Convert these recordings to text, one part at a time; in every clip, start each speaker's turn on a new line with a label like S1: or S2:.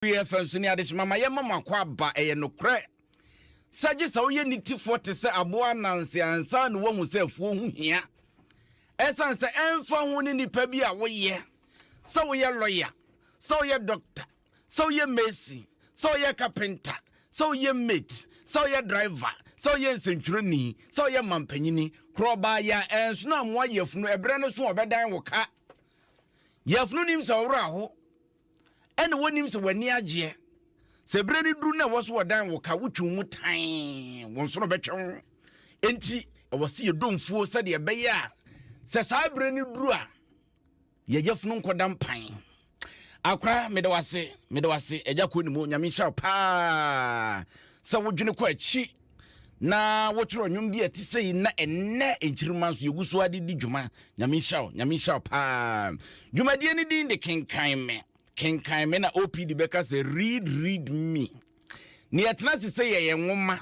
S1: Apueeɛ fam so ne adehyema ma yɛma mo akwaaba. Ɛyɛ nokorɛ sɛ gye sɛ woyɛ nitifoɔ te sɛ aboa ananse ansa na woahu sɛ afuo ho hia. Ɛsiane sɛ ɛmfa ho ne nipa bi a woyɛ, sɛ woyɛ lɔya, sɛ woyɛ dɔkta, sɛ woyɛ mason, sɛ woyɛ kapenta, sɛ woyɛ maid, sɛ woyɛ driver, sɛ woyɛ nsɛntwerɛni, sɛ woyɛ mampanyini, korɔbaa yɛ a ɛnsono amoa yafunu, ɛberɛ no so a ɔbɛdan wo ka. Yafunu nim sɛ ɔwora ho. Ɛna wonim sɛ w'ani agyeɛ. Sɛ berɛ no duru na ɛwɔ so wɔdan wo ka wotwe mu tan wo nso no bɛtwe wo. Enti ɛwɔ sɛ yɛdɔ mfuo sɛdeɛ ɛbɛyɛ a sɛ saa berɛ no duru a yɛyɛ funu nkɔda mpan. Akora meda wase meda wase agya kɔ ne mu nyame nhyira paa sɛ wodwene kɔ akyi. na wotwerɛ nnwom bi a ɛte sɛ yi na ɛnnɛ nkyirimma nso yɛgu so ade di dwuma nyame nhyira wo nyame nhyira wo paa dwumadie no din de kenkan me kenkan me na opd bɛka sɛ read read me ne yɛtena se sɛ yɛyɛ nwoma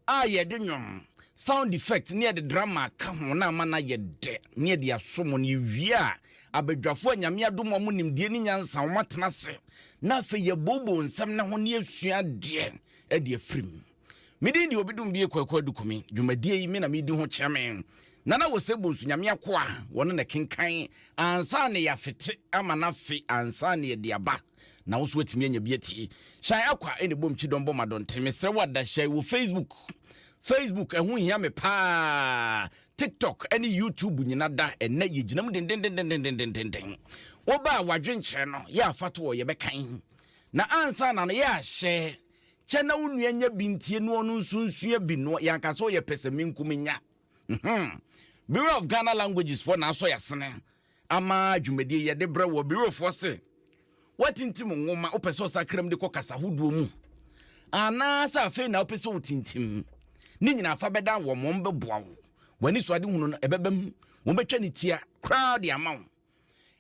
S1: a yɛde nwom sound effect ne yɛde drama ka ho na ama no ayɛ dɛ ne yɛde aso mu no yɛwie a abadwafoɔ a nyame adom ɔmo nimdeɛ ne nyansa ɔmo atena se na afei yɛbooboo nsɛm no ho ne yɛsua deɛ adi afirim. Me din de Obidum-Bie Kwaku Adukumi. Dwumadie yi, me na medi ho kyɛme. Nana Ose Bonsu Nyame akoa, wɔne na kenkan ansa na yɛafete ama no afe ansa na yɛde aba. Na wo nso woatumi anya bi atie. Hyɛn Akwa na ɛbom kyidɔm bɔ madɔnten. Mesrɛ wo ada hyɛn wɔ Facebook. Facebook ɛho hia me paa. TikTok ne YouTube nyina da. Ɛnɛ yɛgyina mu dendendendendendenden. Woba a wadwenkyerɛ no yɛ afa to ɔ yɛbɛkan. Na ansa na no yɛ ahyɛ kyɛ na wo nua nya bi ntie na ɔno nso nsua bi no yɛanka sɛ ɔyɛ pɛsɛmenkominya mhm. Bureau of Ghana Languages foɔ na asɔ yɛasene ama dwumadie yɛde brɛ wɔ Bureau foɔ se woatintim nwoma wopɛ sɛ ɔsakram de kɔ kasa hodoɔ mu anaasɛ afei na wopɛ sɛ wotintim ne nyinaa fa bɛdan wɔn wɔn bɛboa wo w'ani so ade hunu no ɛbɛbam wɔn bɛtwa ne tia koraa de ama wo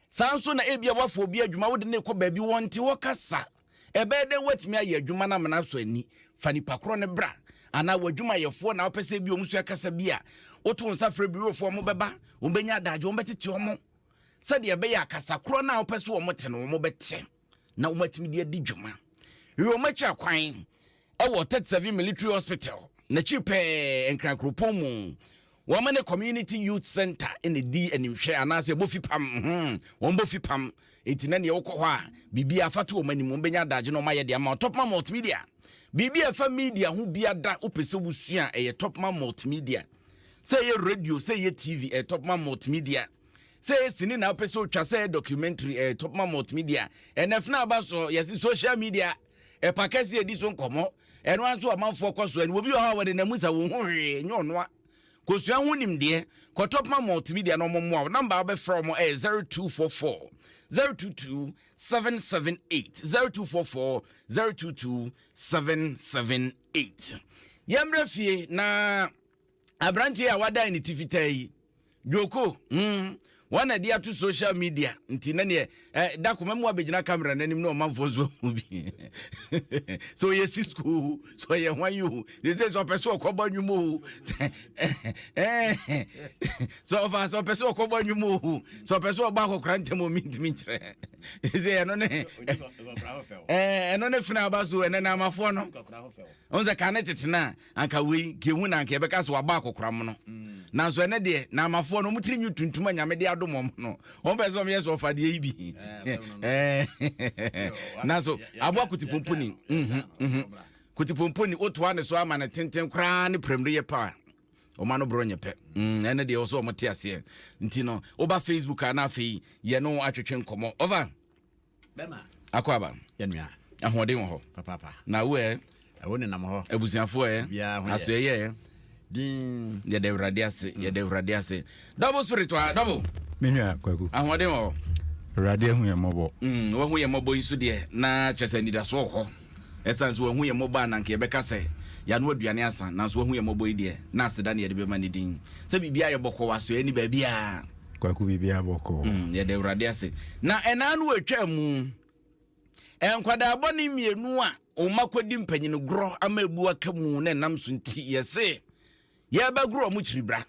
S1: Saa ara nso na ebia woafa obi adwuma, wode no rekɔ baabi, wɔnte hɔ kasa. Ɛbɛyɛ dɛn woatumi ayɛ adwuma no ama no asɔ ani? Fa nipa korɔ no bra. Anaa w'adwumayɛfoɔ na wopɛ sɛ ebi wɔn sua kasa bi a, woto wo nsa frɛ birofoɔ, wɔbɛba, wɔbɛnya adagye, wɔbɛtete wɔn sɛdeɛ ɛbɛyɛ a kasa korɔ no a wopɛ sɛ wɔte no, wɔbɛte. na wɔatumi de adi dwuma. Wɔn akyira kwan wɔ 37 Military Hospital, n'akyiri pɛɛ Nkran kuropɔn mu. Wɔn ne Community Youth Center na ɛdi animhwɛ anaasɛ bofi pam. Hmm, wɔn bofi pam. Enti na neɛ wokɔ hɔ a, biribi afa to wɔn anim, wɔn bɛnya adagye na wɔn ayɛ de ama Topman Multimedia. Biribi a ɛfa media ho biada, wopɛ sɛ wosua ɛyɛ Topman Multimedia. Sɛ ɛyɛ radio, sɛ ɛyɛ TV, ɛyɛ Topman Multimedia. sɛ yɛ sini na wopɛ sɛ wotwa sɛ yɛ documentary eh, top ma multimedia ɛnɛ fena aba so yɛse social media ɛpa kɛse ɛdi so nkɔmmɔ ɛno ara nso amanfoɔ kɔ so ɛne wɔbi wɔ hɔ a wɔde namu sa wɔn ho hwee nyɛ ɔnoa kosua ho nimdeɛ kɔ top ma multimedia na ɔmɔmmoa wo namba wobɛfrɛ ɔmɔ ɛyɛ 0244 022 778 0244 022 778 yɛmmerɛ fie na aberante yi a wadan ne ti fitaa yi dwoko hmm, wɔn na de ato social media nti na neɛ eh, da koma mu abɛgyina kamera no anim na ɔmanfoɔ nso ahu bi sɛ ɔyɛ si skuul sɛ ɔyɛ hwan yi o sɛ sɛ ɔpɛ sɛ ɔkɔbɔ anwuma o sɛ ɔfa sɛ ɔpɛ sɛ ɔkɔbɔ anwuma o sɛ ɔpɛ sɛ ɔbɔ akɔkora ntɛm ɔmi ntumi nkyerɛ sɛ ɛno ne ɛno ne fena aba so ɛnɛ na amafoɔ no ɔn sɛ ka ne tetena a anka wei kehu na anka yɛbɛka sɛ wabɔ akɔkoram no nanso ɛnɛ deɛ na amafoɔ no ɔmotiri nwi tuntum a nyame de adom ɔm no ɔm pɛ sɛ ɔmyɛ sɛ ɔfa deɛ yi bi nanso aboa kotipomponi mhm, mhm. kotipomponi wotoa ne so ama no tenten koraa ne prɛm no yɛ paa ɔma no borɔ nyɛ pɛ mm, ɛne deɛ wɔ sɛ ɔmote aseɛ nti no woba facebook a na afei yɛne wo atwetwe nkɔmmɔ ɔfa Bɛma. Akwaaba. Yɛ nua.
S2: Ahoɔden wɔ hɔ.
S1: Papaapa. Na wo ɛ. Ɛwo nenam
S2: hɔ. Abusuafoɔ ɛ. Obiara
S1: ho yɛ. Asoɛ yɛ ɛ. Din.
S2: Yɛda Awurade
S1: ase. Mm. Yɛda Awurade ase. Double spirit wa double. Me nua Kwaku.
S3: Ahoɔden wɔ hɔ.
S1: Awurade ahu yɛn
S3: mmɔbɔ. Mm, wahu yɛn mmɔbɔ yi
S1: so deɛ na kyerɛ sɛ anidasoɔ wɔ hɔ. Esiane sɛ wahu yɛn mmɔbɔ a na anka yɛbɛka sɛ yɛanoa aduane asa, nanso wahu yɛn mmɔbɔ yi deɛ, na aseda na yɛde bɛma ne din. Sɛ biribiara yɛ bɔkɔɔ, asoɛe nni baabiara. Kwaku, biribiara
S3: bɔkɔɔ. Mm, yɛda Awurade ase.
S1: Na ɛnna ano a etwaa mu, nkwadaa bɔne mmienu a wɔn mma kɔdi mpanyin gorɔ ama abu aka mu na ɛnam so nti, yɛse yɛrebɛgoro wɔn kyiribra.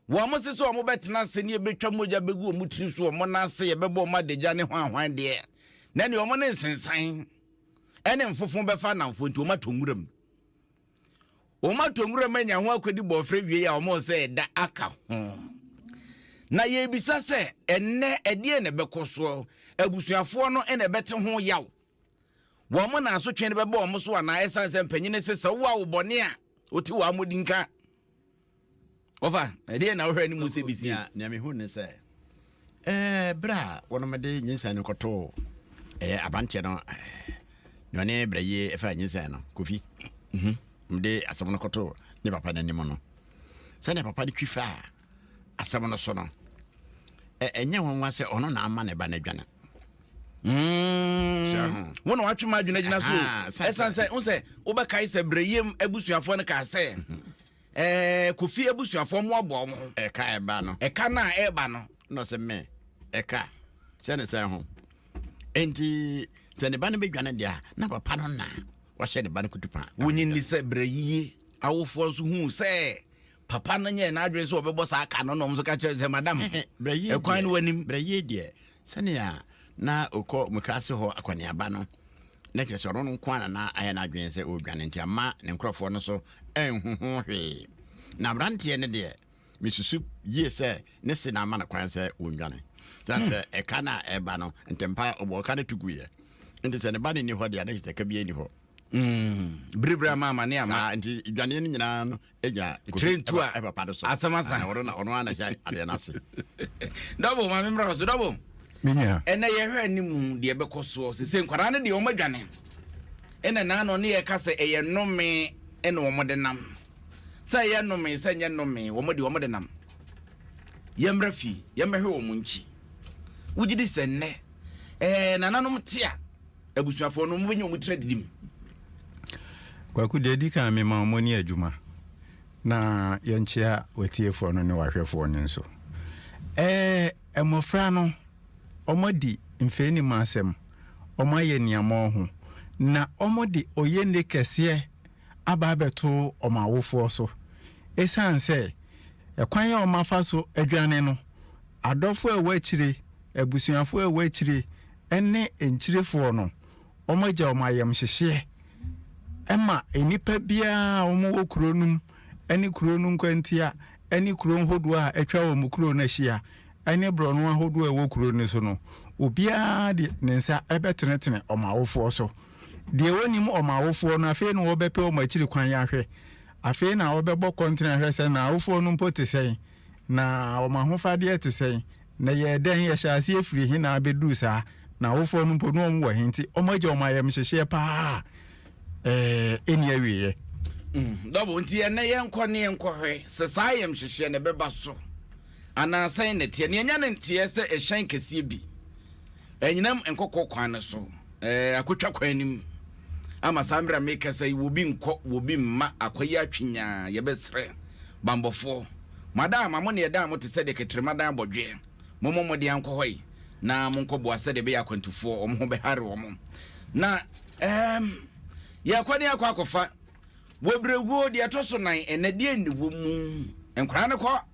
S1: Wɔse sɛ wɔbɛtena ase ne yɛbɛtwa mogya bɛgu wɔn tiri so wɔn nan ase yɛbɛbɔ wɔn adagya ne hwanhwan deɛ na ne wɔn ne nsensan ɛne mfofo bɛfa anamfo nti wɔn atɔ nwura mu wɔn atɔ nwura mu anya ho akɔdi bɔɔfrɛ wie a wɔn sɛ ɛda aka ho na yɛbisa sɛ ɛnnɛ ɛdeɛ na ɛbɛkɔ soɔ abusuafoɔ no ɛna ɛbɛte ho yaw wɔn na asotwe no bɛbɔ wɔn so anaa ɛsan sɛ mpanyin sɛ sɛ wowɔ a wobɔne a wɔte wɔn amɔdi nka Wɔfa, ɛdeɛ na wohwɛ ne mu sɛ bisi. Nea mehu ne sɛ,
S2: ɛɛ berɛ a wɔnom de nyinsɛn no kɔtoo ɛyɛ abanteɛ no nea ɔne berɛ yie ɛfa nyinsɛn no kofi. Mhm. Mde asɛm no kɔtoo ne papa no anim no, sɛdeɛ papa no twi faa asɛm no so no, ɛnyɛ nwanwa sɛ ɔno na ama ne ba no adwane. Mm.
S1: Wo na watwe ma adwene gyina so. Ɛsan sɛ wo sɛ wobɛkae sɛ berɛ yie abusuafoɔ no kaa sɛ. Mm -hmm. Ɛɛ Kofi abusuafoɔ mmoaboa wɔn ho. Ɛka ɛba no, ɛka
S2: no a ɛreba no
S1: na ɔsɛ me
S2: ɛka sɛ ne sɛn ho. Enti sɛ ne ba no bɛdwane deɛ a, na papa no na wahyɛ ne ba no kutupa. Wonye nni sɛ berɛ
S1: yiye awofoɔ nso huu sɛ papa no nyɛɛ n'adwene sɛ ɔbɛbɔ saa ka no na wɔn nso ka kyerɛɛ no sɛ, Madam, ɛkwan no wɔ
S2: anim. Berɛ
S1: yiye deɛ,
S2: Sɛnea na ɔkɔ mukaase hɔ akɔneaba no, na kyerɛ sɛ ɔno nko ara na na ayɛ n'adwene sɛ ɔredwane, nti amma ne nkurɔfoɔ no so anhu ho hwee. Na aberanteɛ no deɛ, mesusu yie sɛ ne se na ama no kwan sɛ ɔnnwane. Ɛsiane sɛ ɛka no a ɛreba no, ntɛmpa ara ɔbɔɔ ka no to guiɛ. Enti sɛ ne ba no nni hɔ deɛ a, na kyerɛ sɛ ka biara nni hɔ. Mm, bere
S1: bere ama amane ama. Saa nti dwaneɛ no nyinaa
S2: no gyina trentu a ɛpapa
S1: do so. Asɛm asa. Ah,
S2: ɔno na ɔno ana
S1: hwɛ
S2: adeɛ no ase. Dɔbo
S1: ma me mmra so dɔbo. Menya. Ɛnna
S3: yɛhwɛ anim
S1: deɛ ɛbɛkɔ soɔ sɛ sɛ nkwadaa no deɛ wɔn adwane. Ɛnna naa no ne yɛka sɛ ɛyɛ nnome ɛna wɔn de nam. Sɛ ɛyɛ nnome sɛ nyɛ nnome wɔn de wɔn de nam. Yɛmmra fie yɛmmɛhwɛ wɔn nkyi. Wogye di sɛ nnɛ ɛɛ nananom te a abusuafoɔ no, wɔbɛnya wɔn tiri adidi mu.
S3: Kwaku, deɛ ɛdi kan mema wɔn ne adwuma na yɛnkyea watiefoɔ no ne wahwɛfoɔ no nso. Ɛɛ mmɔfra no, wɔadi mfɛnim asɛm, wɔayɛ niamɔɔ ho, na wɔde ɔyɛnne kɛseɛ aba abɛto wɔn awofoɔ so. Ɛsiane sɛ ɛkwan a wɔafa so adwane no, adɔfoɔ a ɛwɔ akyire, abusuafoɔ a ɛwɔ akyire, ne nkyirefoɔ no, wɔagya wɔn ayamhyehyeɛ ma nnipa biara a wɔwɔ kuro no mu ne kuro no nkwantia ne kuro ahodoɔ a atwa wɔn kuro no ahyia ne borɔno ahodoɔ a ɛwɔ kuro no so no, obiara de ne nsa bɛtenetene wɔn awofoɔ so. Deɛ wɔnnim wɔn awofoɔ no, afei na wɔbɛpɛ wɔn akyiri kwan ahwɛ. Afei na wɔbɛbɔ kɔntene ahwɛ sɛ na awofoɔ no mpo te sɛn, na wɔn ahofadeɛ te sɛn, Na ɛyɛɛ dɛn? Yɛhyɛɛ aseɛ firii he na abɛduruu saa? Na awofoɔ no mpo, na wɔn wɔ he, nti wɔn agya wɔn ayamhyehyeɛ paa a ɛnni awieɛ. Mm, dɔbo,
S1: nti ɛnɛ yɛnkɔ ne yɛnkɔhwɛ sɛ saa ayamhyehyeɛ no ɛbɛba so anaa sɛn na ɛteɛ. Nea ɛnya ne nteɛ sɛ ɛhyɛn kɛseɛ bi ɛnyinam nkɔkɔ kwan no so, ɛɛ, akɔtwa kwan no mu. ama saa mmerɛ a merekasa yi wɔbi nkɔ wɔbi mma akwayi atwenyaa yɛbɛsrɛ banbɔfoɔ mo adan ama mo ne ɛdan mo te sɛ deɛ kɛtrɛma dan abɔdweɛ mommɔ mmɔden ankɔ hɔ yi na monkɔ boa sɛdeɛ ɛbɛyɛ akwantufoɔ wɔn ho bɛhare wɔn na ɛɛm yɛkɔ ne akɔ akɔfa wɔbrɛguo deɛ ɛtɔ so nan ɛnɛ deɛ nni wɔ mu nkwaraa no kɔ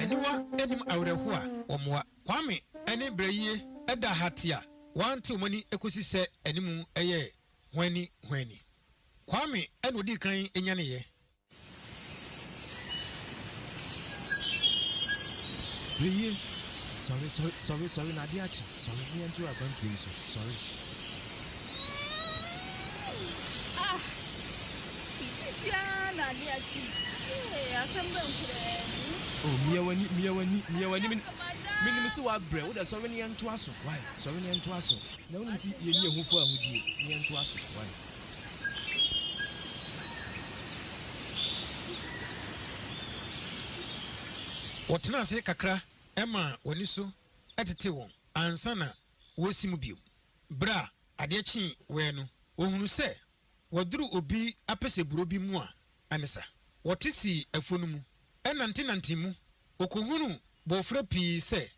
S4: Aniwa nnim awerɛhoɔ a wɔmmoa. Kwame ne Brɛyie da ha te a wɔante wɔn ani kɔsi sɛ anim yɛɛ hwanni hwanni. Kwame na ɔdii kan nyaneeɛ.
S5: Eye, sɔre, sɔre, sɔre, sɔre, na ade akye, sɔre, na yɛntow akwantuo yi so, sɔre. Ah,
S6: sisi ara na ade akye. Ee, asɛm bɛn koraa ni? Oh, mia
S5: w'ani, mia w'ani, mia w'ani. Menim sɛ w'abrɛ, wo dɛ sɔre na yɛntoa so, wae, sɔre na yɛntoa so. Na wonim sɛ yɛnni ɛho fo ahodie, na yɛntoa so, wae.
S4: Wɔtena ase kakra ma wɔn ani so tetee wɔn ansa na wɔresi mu bio. Bere a adeɛ kyee wɛɛ no, wɔhunuu sɛ wɔaduru obi apɛsɛ buro bi mu a ɛne sa. Wɔte sii afuo no mu, nantenantee mu. Wɔkɔhunuu bɔɔfrɛ pii sɛ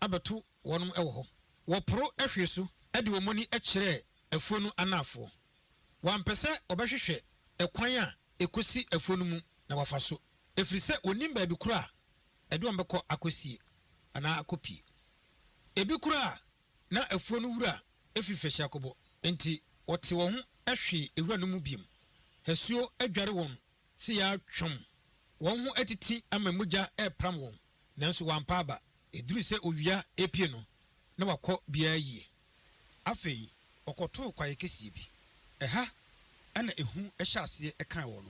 S4: abɛto wɔn wɔ hɔ. Wɔporo hwee so de wɔn ani kyerɛɛ afuo no anaafoɔ. Wɔampɛ sɛ wɔbɛhwehwɛ ɛkwan a ɛkɔsi afuo no mu na wɔafa so, ɛfiri sɛ wɔnnim baabi korɔ a ɛde wɔn bɛkɔ akɔsie anaa akɔpie. Ebi koraa na afuo no wura firi fahyia kɔbɔ, enti wɔtee wɔn ho hwee wura no mu bio. Asuo adware wɔn se yaa twam, wɔn ho atiti ama mogya repram wɔn. nanso wampa aba. Eduruu sɛ owia repue no, na wakɔ biara yie. Afei wɔkɔtoo kwaeɛ kɛseɛ bi. Ɛha na ehu hyɛɛ aseɛ kaa wɔn.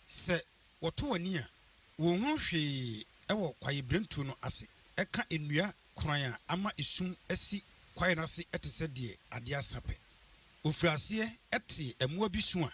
S4: Sɛ wɔto wɔn ani a, wɔnhunu hwee wɔ kwaeɛbirentuo no ase. Ɛka nnua koran a ama esum asi kwaeɛ no ase te sɛ deɛ adeɛ asa pɛ. Wɔfirii aseɛ tee mmoa bi su a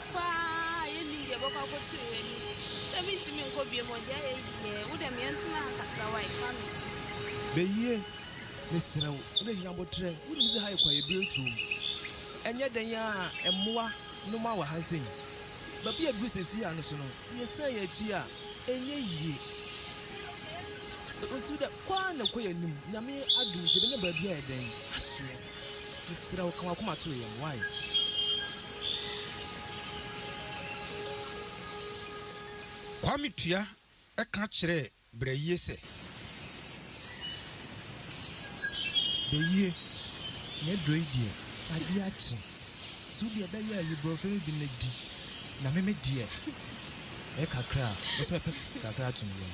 S5: Paa a yɛnnim deɛ ɛbɛkɔ akɔto yɛn anim. Wodɛ mentumi nkɔ bio mu o, deɛ ayɛ yi deɛ, wodɛ me yɛntena ha kakra wae, Kwame. Beyie, mesrɛ wo, wodɛ hia aboterɛ, wonim sɛ ha yɛ kwaeɛbirɛ tuom. Ɛnyɛ dɛn ara a mmoa nom ara wɔ ha nsɛ yi. Baabi a ɛduru seesei ara no so no, yɛsan yɛn akyi a, ɛnyɛ yie. Nti wodɛ kɔ ara na kɔ yɛn anim, Nyame adom nti yɛbɛnya baabi a ɛyɛ dɛn asoɛ. Mesrɛ wo ka w'akoma to yɛn wai.
S4: Kwame Tua ka kyerɛɛ Brɛyie sɛ.
S5: Brɛyie, m'aduro yi deɛ adeɛ akye nti wo deɛ bɛyɛ ayi borɔfrɛ yi bi na di na me me deɛ mɛyɛ kakra a mɛsɛ mɛpɛ kakra ato me yam.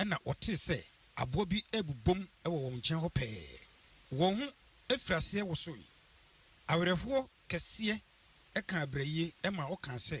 S4: Ɛnna wɔtee sɛ aboa bi rebobom wɔ wɔn nkyɛn hɔ pɛɛ. Wɔn ho firii aseɛ wosoe. Awerɛhoɔ kɛseɛ kaa Brɛyie ma ɔkaa sɛ.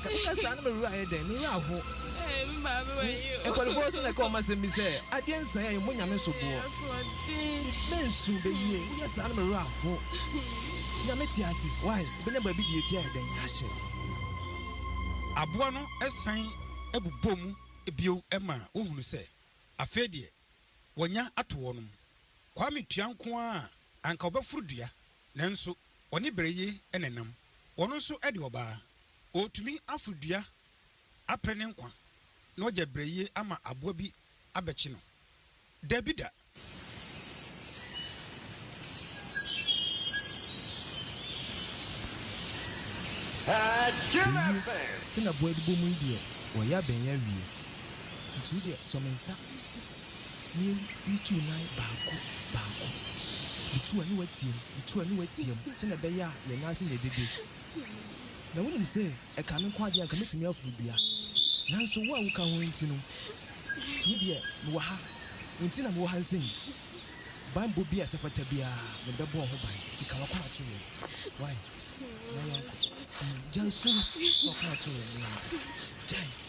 S5: Ɛno na saa na me werɛ ayɛ dɛn? Me werɛ aho.
S6: Ɛɛ, me maame wɔ yi o. Nkɔlifoɔ so na ɛka wɔn
S5: asɛm bi sɛ, Adeɛ nsaeɛ yi, mo nyame so boɔ. Asoɔden. Mensu bɛ yie, woyɛ saa na me werɛ aho. Nyame te ase, wai, wobɛnya baabi deɛ ɛti ayɛ dɛn, yɛahyɛ.
S4: Aboa no san bobɔɔ mu bio ma wɔhunu sɛ, afei deɛ. wɔanya ato hɔ no mu. Kwame tua nko ara a, anka ɔbɛforo dua. Nanso ɔne Bereye na ɛnam. Ɔno nso de ɔbaa. Ɔretumi aforo dua apere ne nkwa na wagya Bereye ama aboa bi abɛkye no? Dabi da!
S5: Eyi, Tena Boa Adibɔ Mu yi deɛ, wɔyɛ a bɛn yɛ awie. Nti wo deɛ sɔ me nsa na yɛn yi tu nan baako baako. Me tu a ne watia mu, me tu a ne watia mu sɛdeɛ ɛbɛyɛ a yɛn nan ase na ɛbɛbie. Na wonim sɛ ɛkaa me nko ara deɛ anka mɛtumi aforo dua. Nanso wo a woka ho nti no, nti wo deɛ mewɔ ha, wo nti na mewɔ ha nsɛ yi. Banbɔ bi a sɛ ɛfata biara me bɛbɔ ho ban, nti ka w'akoma to yɛn wae na yɛnkɔ. Gyae sum na w'akoma to yɛn na yɛnkɔ. Gyae.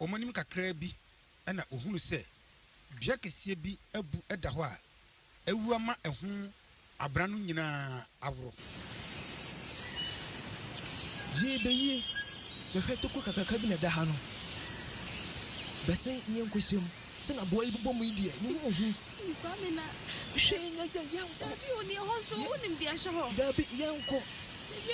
S4: Wɔanim kakraa bi na wɔhunu sɛ dua kɛseɛ bi abu da hɔ a awu ama ɛho abena no nyinaa aworo.
S5: Yie bɛ yie bɛhwɛ tokuro kakraka bi na ɛda ha no bɛsen yɛn nkɔhyɛ mu. Sɛ na boa yi bobɔ mu yi deɛ ne ho ɔhu. Ei Kwame na
S6: hwɛ. Ei Nyagyɛ yɛnkɔ. Dabi o deɛ hɔ nso wonim deɛ ɛhyɛ hɔ. Dabi yɛnkɔ.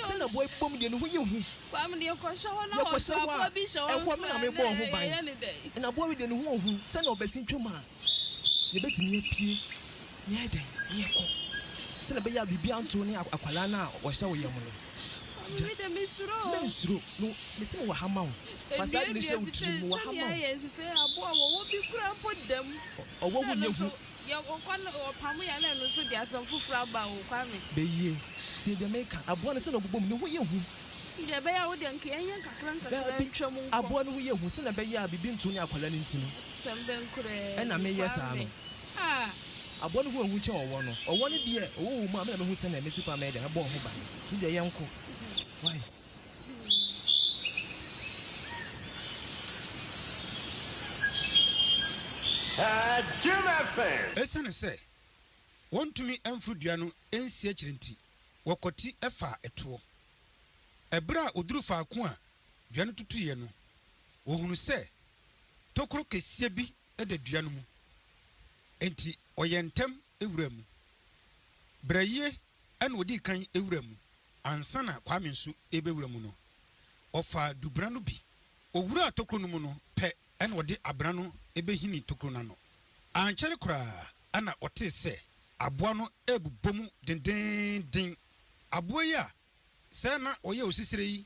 S5: Sɛ na boa yi bobɔ mu deɛ ne ho yɛ hu. Kwame
S6: deɛ kɔ hyɛ hɔ na hɔ nso aboa bi hyɛ hɔ nso
S5: a na ɛyɛ ne dɛn. Na boa yi deɛ ne ho ɔhu sɛ na ɔbɛsen twam a yɛbɛtumi apue na yɛayɛ dɛn na yɛkɔ sɛdeɛ ɛbɛyɛ a biribiara nto ne akwadaa no a ɔhyɛ wo yam no.
S6: Mennsuro, na
S5: mese mewɔ ha ma wo. Fa saa adwene hyɛ wo tirim, mewɔ ha ma
S6: wo. Ɔwɔ ho nyɛ
S5: hu.
S6: Beyie,
S5: tie deɛ meka. Aboa no sɛdeɛ ɔbobom, ne ho yɛ hu.
S6: Daabi, aboa no ho yɛ hu sɛdeɛ
S5: ɛbɛyɛ a biribi nto ne akwadaa no nti no,
S6: ɛna meyɛ saa no.
S5: Aboa no hu ehu kyɛ ɔwɔ no. Ɔwɔ no deɛ, ɔwɔ wɔ mu a, me na mɛhu sɛdeɛ mɛsi kwan mɛyɛ dɛ mɛbɔ wo ho ban. Nti deɛ yɛnkɔ. Wai.
S4: Esiane sɛ wɔntumi mforo dua no nsi akyiri nti, wɔkwati faa ɛtoɔ. Ɛberɛ a wɔduru faako a dua no tutuiɛ no, wɔhunu sɛ tokuro kɛseɛ bi da dua no mu, enti ɔyɛɛ ntɛm wuraa mu. Brayie na ɔdii kan wuraa mu ansa na Kwame nso rebɛwura mu no. Ɔfaa dubena no bi. Ɔwuraa tokuro no mu no pɛ na ɔde abena no bɛhinii tokuro no ano. Ankyɛre koraa na ɔtee sɛ aboa no rebobɔ mu dendeenden. Aboa yi a Sɛ na ɔyɛ osisire yi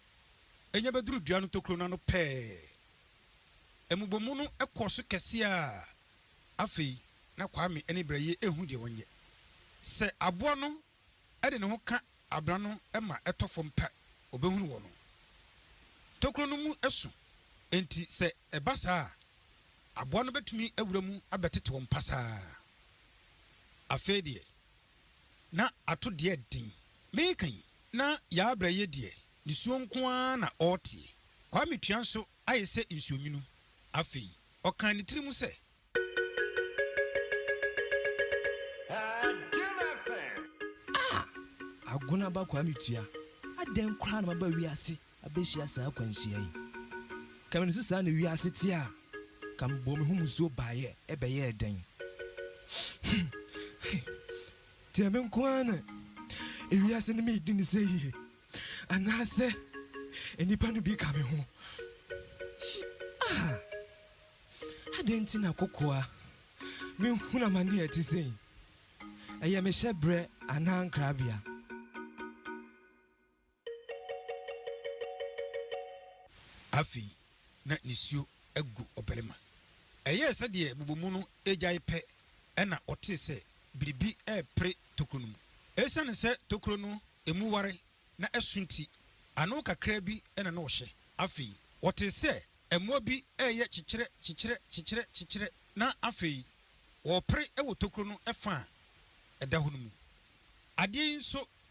S4: nya bɛduru dua no tokuro no ano pɛɛ. Mmobɔmu no kɔɔ so kɛse ara. Afei na Kwame ne Brɛye nhu deɛ wɔnyɛ. Sɛ aboa no de ne ho ka abena no ma ɛtɔ fam pɛ ɔbɛhunu wɔ no. Tokuro no mu so enti sɛ ɛba saa a, aboa no bɛtumi awura mu abɛtete wɔn pasaa. Afei deɛ. Na ato deɛ den. Meka yi, na Yarbra yɛ deɛ nisuo nko ara na ɔreteɛ. Kwame tua nso ayɛ sɛ nsuonwunu. Afei, ɔkaa ne tiri mu sɛ.
S5: Ah! Agona ba Kwame tua, adɛn koraa na maba wiase? abehyia saa akwanhyia yi. Ka me no se saa na wiase te a ka me bɔɔ me ho musuo baeɛ ɛbɛyɛɛ dɛn? Deɛ me nko ara na ewiase no medi no sɛ yie anaasɛ nnipa no bi ka me ho? Ah! Adɛn nti na kokoa menhunu amane a ɛte sei? Ɛyɛ me hyɛbrɛ anaa nkrabea?
S4: Afei na nisuo agu ɔbarima. Ɛyɛɛ sɛdeɛ bobɔmu no regyae pɛ na ɔtee sɛ biribi repere tokuro no mu. Esiane sɛ tokuro no emu ware na ɛso nti, ano kakraa bi na na ɔhyɛ. Afei ɔtee sɛ mmoa bi reyɛ kyekyerɛ kyekyerɛ kyekyerɛ kyekyerɛ na afei wɔrepere wɔ tokuro no fã a ɛda hɔ no mu. Adeɛ yi nso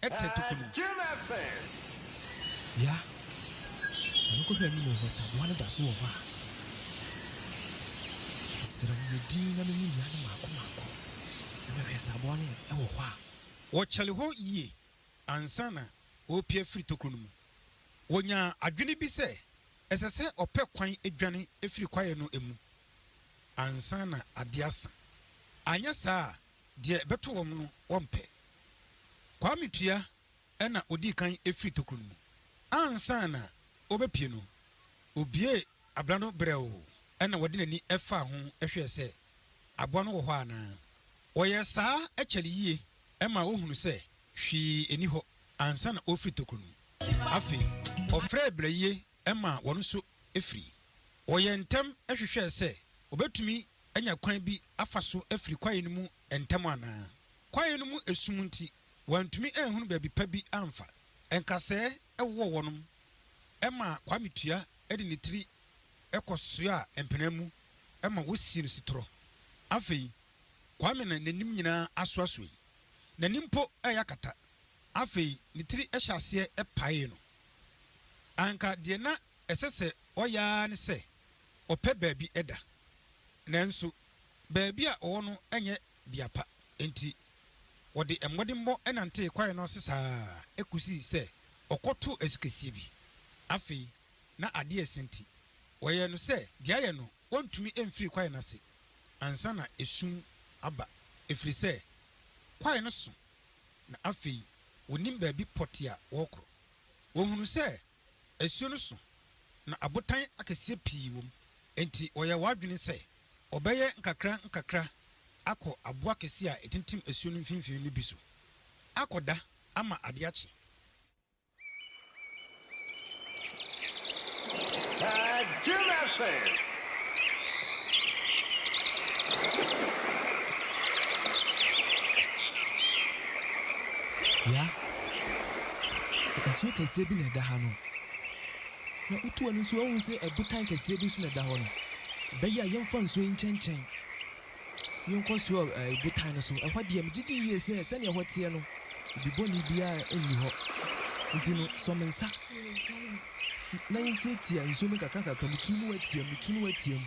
S4: Ɛtɛ toko no.
S5: Yea, na me kɔhwɛ anim hɔ sɛ aboa no da so wɔ hɔ a. Mesrɛ wo yɛ dinn na me ne nnua no mmaako mmaako na me hwɛ sɛ aboa no wɔ hɔ a. Wɔkyɛre hɔ
S4: yie ansa na wɔrepue afiri toko no mu. Wɔnyaa adwene bi sɛ ɛsɛ sɛ ɔpɛ kwan dwane firi kwaeɛ no mu ansa na adeɛ asa. Anyɛ saa a Deɛ ɛbɛto wɔn no wɔmpɛ. Kwame Tua na ɔdii kan firii tokuro no mu. Ansa na ɔrebɛpue no, ɔbuee abena no brɛoo na ɔde n'ani faa ho hwɛɛ sɛ aboa no wɔ hɔ anaa. Ɔyɛɛ saa kyɛre yie maa ɔhunuu sɛ hwee nni hɔ ansa na ɔrefiri tokuro no mu. Afei, ɔfrɛɛ Brayie maa wɔn nso firii. Ɔyɛɛ ntɛm hwehwɛɛ sɛ ɔbɛtumi anya kwan bi afa so afiri kwaeɛ no mu ntɛm anaa. Kwaeɛ no mu esum nti, wɔantumi anhunu baabi pa bi amfa. Nkasɛɛ wowɔ hɔnom ma Kwame Tua de ne tiri kɔsoaa mpena mu ma wɔsii no setorɔ. Afei, Kwame na n'anim nyinaa asoasoɛe. N'ani mpo reyɛ akata. Afei, ne tiri hyɛɛ aseɛ paee no. Anka deɛ na Ɛsɛ sɛ ɔyɛ ara ne sɛ ɔpɛ baabi da. Nanso baabi a ɔwɔ no nyɛ bea pa, enti ɔde mmɔdenbɔ nantee kwae no ase saa kosii sɛ ɔkɔtoo asukɛseɛ bi. Afei na ade resa nti, wɔyɛɛ no sɛ deɛ ayɛ no ɔntumi mfiri kwae no ase ansa na esum aba, ɛfiri sɛ kwae no sõ na afei wɔnnim baabi pɔtee a wɔrekɔ. Wɔhunuu sɛ Asuo no so na abotan akɛseɛ pii wom, enti wɔyɛɛ wɔn adwene sɛ wɔbɛyɛ nkakrankakra akɔ aboɔ akɛseɛ a ɛtintim asuo no mfimfini no bi so akɔda ama ade akye.
S5: Nsuo kɛseɛ bi na ɛda ha no. Na wotu w'ani nso a wohu sɛ ɛbotan kɛseɛ bi nso na ɛda hɔ no. Ɛbɛyɛ a yɛmfa nsuo yi nkyɛnkyɛn. Yɛnkɔ so wɔ ɛɛ botan no so. Ɛhɔ deɛ, megye di yie sɛ sɛdeɛ ɛhɔ teɛ no, obi bɔne biara nni hɔ. Nti no, sɔ me nsa na yɛntiatia nsuo mu nkakrankakra. Metu na woatia, metu na woatia mu.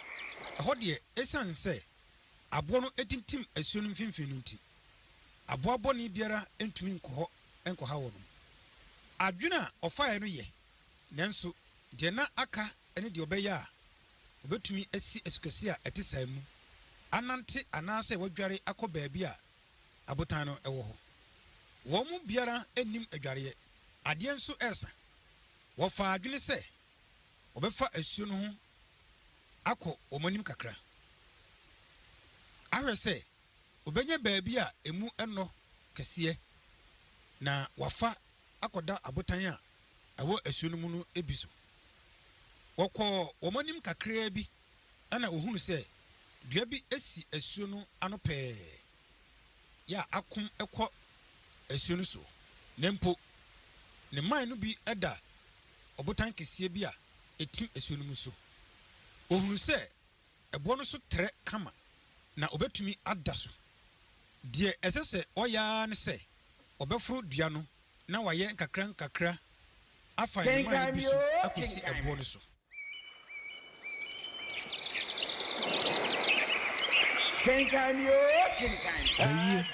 S4: Ɛhɔ deɛ, esiane sɛ aboɔ no atintim asuo no mfimfini no nti, aboa bɔne biara ntumi nkɔ hɔ nkɔha wɔn. Adwene a ɔfaeɛ no yɛ, nanso deɛ na aka ne deɛ ɔbɛyɛ a ɔbɛtumi asi asukɛseɛ a ɛte saa mu, anante anaasɛ wadware akɔ baabi a abotan no wɔ hɔ. Wɔn mu biara nnim adwareɛ. Adeɛ nso resa. Wɔfaa adwene sɛ wɔbɛfa asuo no ho akɔ wɔn anim kakra ahwɛ sɛ wɔbɛnya baabi a emu nnɔ kɛseɛ na wɔafa akɔda abotan a ɛwɔ asuo no mu no bi so. Wɔkɔɔ wɔn anim kakraa bi na wɔhunu sɛ dua bi si asuo no ano pɛɛ yɛ a akom kɔ asuo no soɔ na mpo ne mman no bi da ɔbotan kɛseɛ bi a etim asuo no mu so. Ohunu sɛ ɛboɔ no so trɛ kama na obetumi ada so. Deɛ ɛsɛ sɛ ɔyɛ ara ne sɛ ɔbɛforo dua no na wayɛ nkakrankakra afa nnomaa no bi so akosi ɛboɔ no so.
S1: Ayie,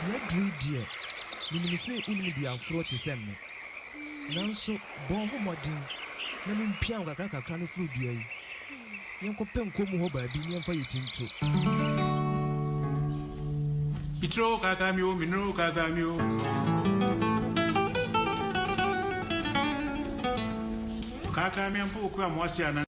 S5: yɛaduru deɛ menim sɛ wonim duaforɔ te sɛ me. Nanso bɔ ho mmɔden na mumpia nkakrankakra no firi dua yi, yɛnkɔpɛ nkɔɔ mu hɔ baabi na yɛmfa yɛn ti nto.
S7: Itro kaka mi o, mi nro kaka mi o. Kaka mi ampo oku amoasi anan.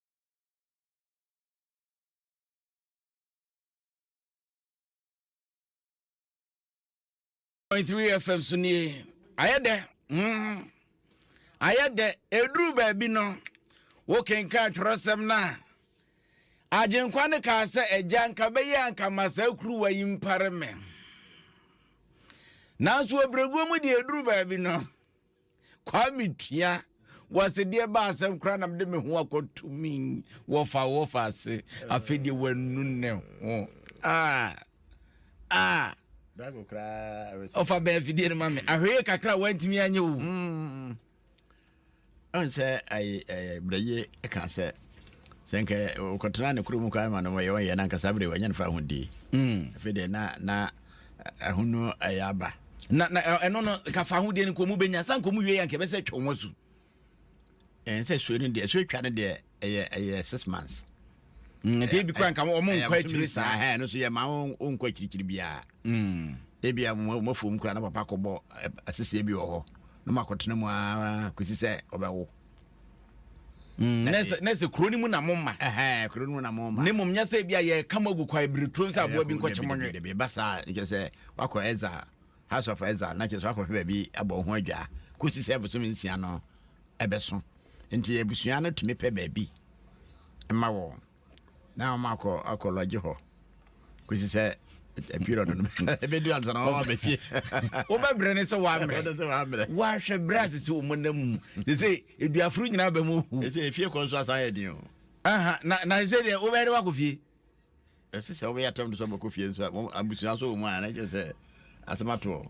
S1: point three fm so nie ayɛ dɛ mm ayɛ dɛ eduru baabi no wokenkan atwerɛsɛm no a agyenkwa no kaa sɛ agya nka bɛyɛ anka ma saa kuruwa yi mpare me nanso ɔbrɛguo mu deɛ eduru baabi no Kwame Tua wɔse deɛ ba asɛm koraa na mede me ho akɔto me wɔfa wɔfa ase afei deɛ wanu ne ho ah
S2: ah ɔfa bɛn afidie
S1: no ma me ahweye kakra wantumi anyɛ o mm.
S2: ɔn sɛ berɛye ka sɛ sɛ nkɛ wokɔtena ne kuro mu koraa ma no yɛ ɔyɛ no ankasa berɛ wanyɛ no fa ho die mm. afei deɛ na ɛho no ɛyɛ aba na na ɛno
S1: no kafa ho deɛ no nkɔmu bɛnya sa nkɔmu wie yɛ nka ɛbɛsɛ twɛ ho asu
S2: ɛn sɛ suo no deɛ suo twa no deɛ ɛyɛ ɛyɛ six months mm, nti ebi
S1: kora nka wɔn nkɔ akyiri saa ɛn no so yɛ maa wɔn
S2: nkɔ akyirikyiri biara mm. ebi a wɔn afuom kora na papa kɔbɔ asese bi wɔ hɔ na wɔn akɔtena mu ara kɔsi sɛ ɔbɛwo Mm, na
S1: ɛsɛ na ɛsɛ kuro no mu na mo ma ɛhɛn kuro no mu na mo ma
S2: ne mmom nyɛ sɛ ebi a yɛka
S1: mo agu kwa ebiri turom sɛ aboa bi nkɔkye mo nwe dabi ɛba saa nkyɛ
S2: sɛ wakɔ exile house of exile na kyɛ sɛ wakɔhwɛ baabi abɔ ho adwa kɔsi sɛ abosom nsia no ɛbɛso nti abusua no tumi pɛ baabi ma wɔn na wɔn akɔ akɔ lɔgye hɔ kɔsi sɛ period no ɛbɛdu ansa na wɔn abɛhwɛ wobɛbrɛ ne
S1: sɛ wɔammerɛ wɔahwɛ berɛ ase sɛ wɔn nam mu te sɛ aduaforo nyinaa bɛ mu hu ɛfie kɔ nso asan
S2: yɛ den o na sɛ
S1: deɛ wobɛyɛ de wakɔ fie ɛsɛ sɛ
S2: wobɛyɛ atɛm de sɛ wɔbɛkɔ fie nso abusua so wɔ mu a na kyerɛ sɛ asɛm atoɔ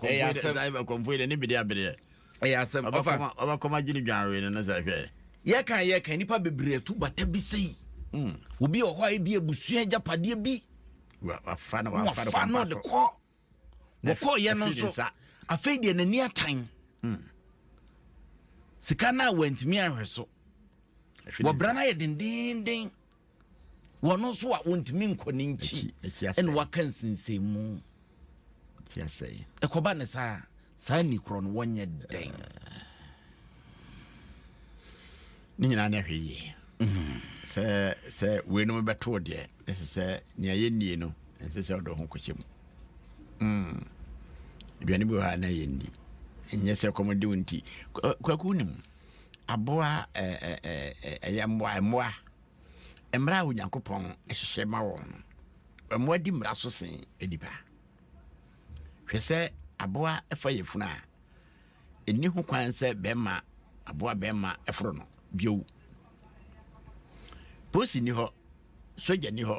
S2: ɛyɛ asɛm ɛkɔmfoɔ yi deɛ ne bedeɛ abedeɛ ɛyɛ asɛm ɔfa
S1: ɔbɛkɔm agye
S2: ne dwanwee no no sɛ hwɛ yɛka yɛka nnipa
S1: bebree atu bata bi sei hmm. obi wɔ hɔ a ebi abusua agyapadeɛ bi
S2: wafa no de
S1: kɔ wɔkɔɔyɛ no nso afei deɛ n'ani atan hmm. sika no a wantumi anhwɛ so wɔbra no ayɛ dendenden wɔn nso a wɔntumi nkɔ ne nkyi ɛna waka nsensɛnmu
S2: ɛkɔba ne saa
S1: saa ni korɔ no wɔnyɛ dɛn
S2: ne nyinaa ne ahwɛ yie mm. sɛ sɛ weinom bɛtoo deɛ ɛsɛ sɛ nea yɛnnie no ɛnsɛ sɛ ɔdɔ ho kɔhyɛ mu mm. aduane bi wɔ ha na yɛndi ɛnyɛ sɛ kɔmɔde wo nti kwaku nim aboa ɛyɛ mmoa mmoa mmara a onyankopɔn hyehyɛ ma wɔn no mmoa di mmara so sen nnipa hwɛ sɛ aboa ɛfa yɛ funu a ɛni ho kwan sɛ bɛrima aboa bɛrima ɛforo no bio polisi ni hɔ sogya ni hɔ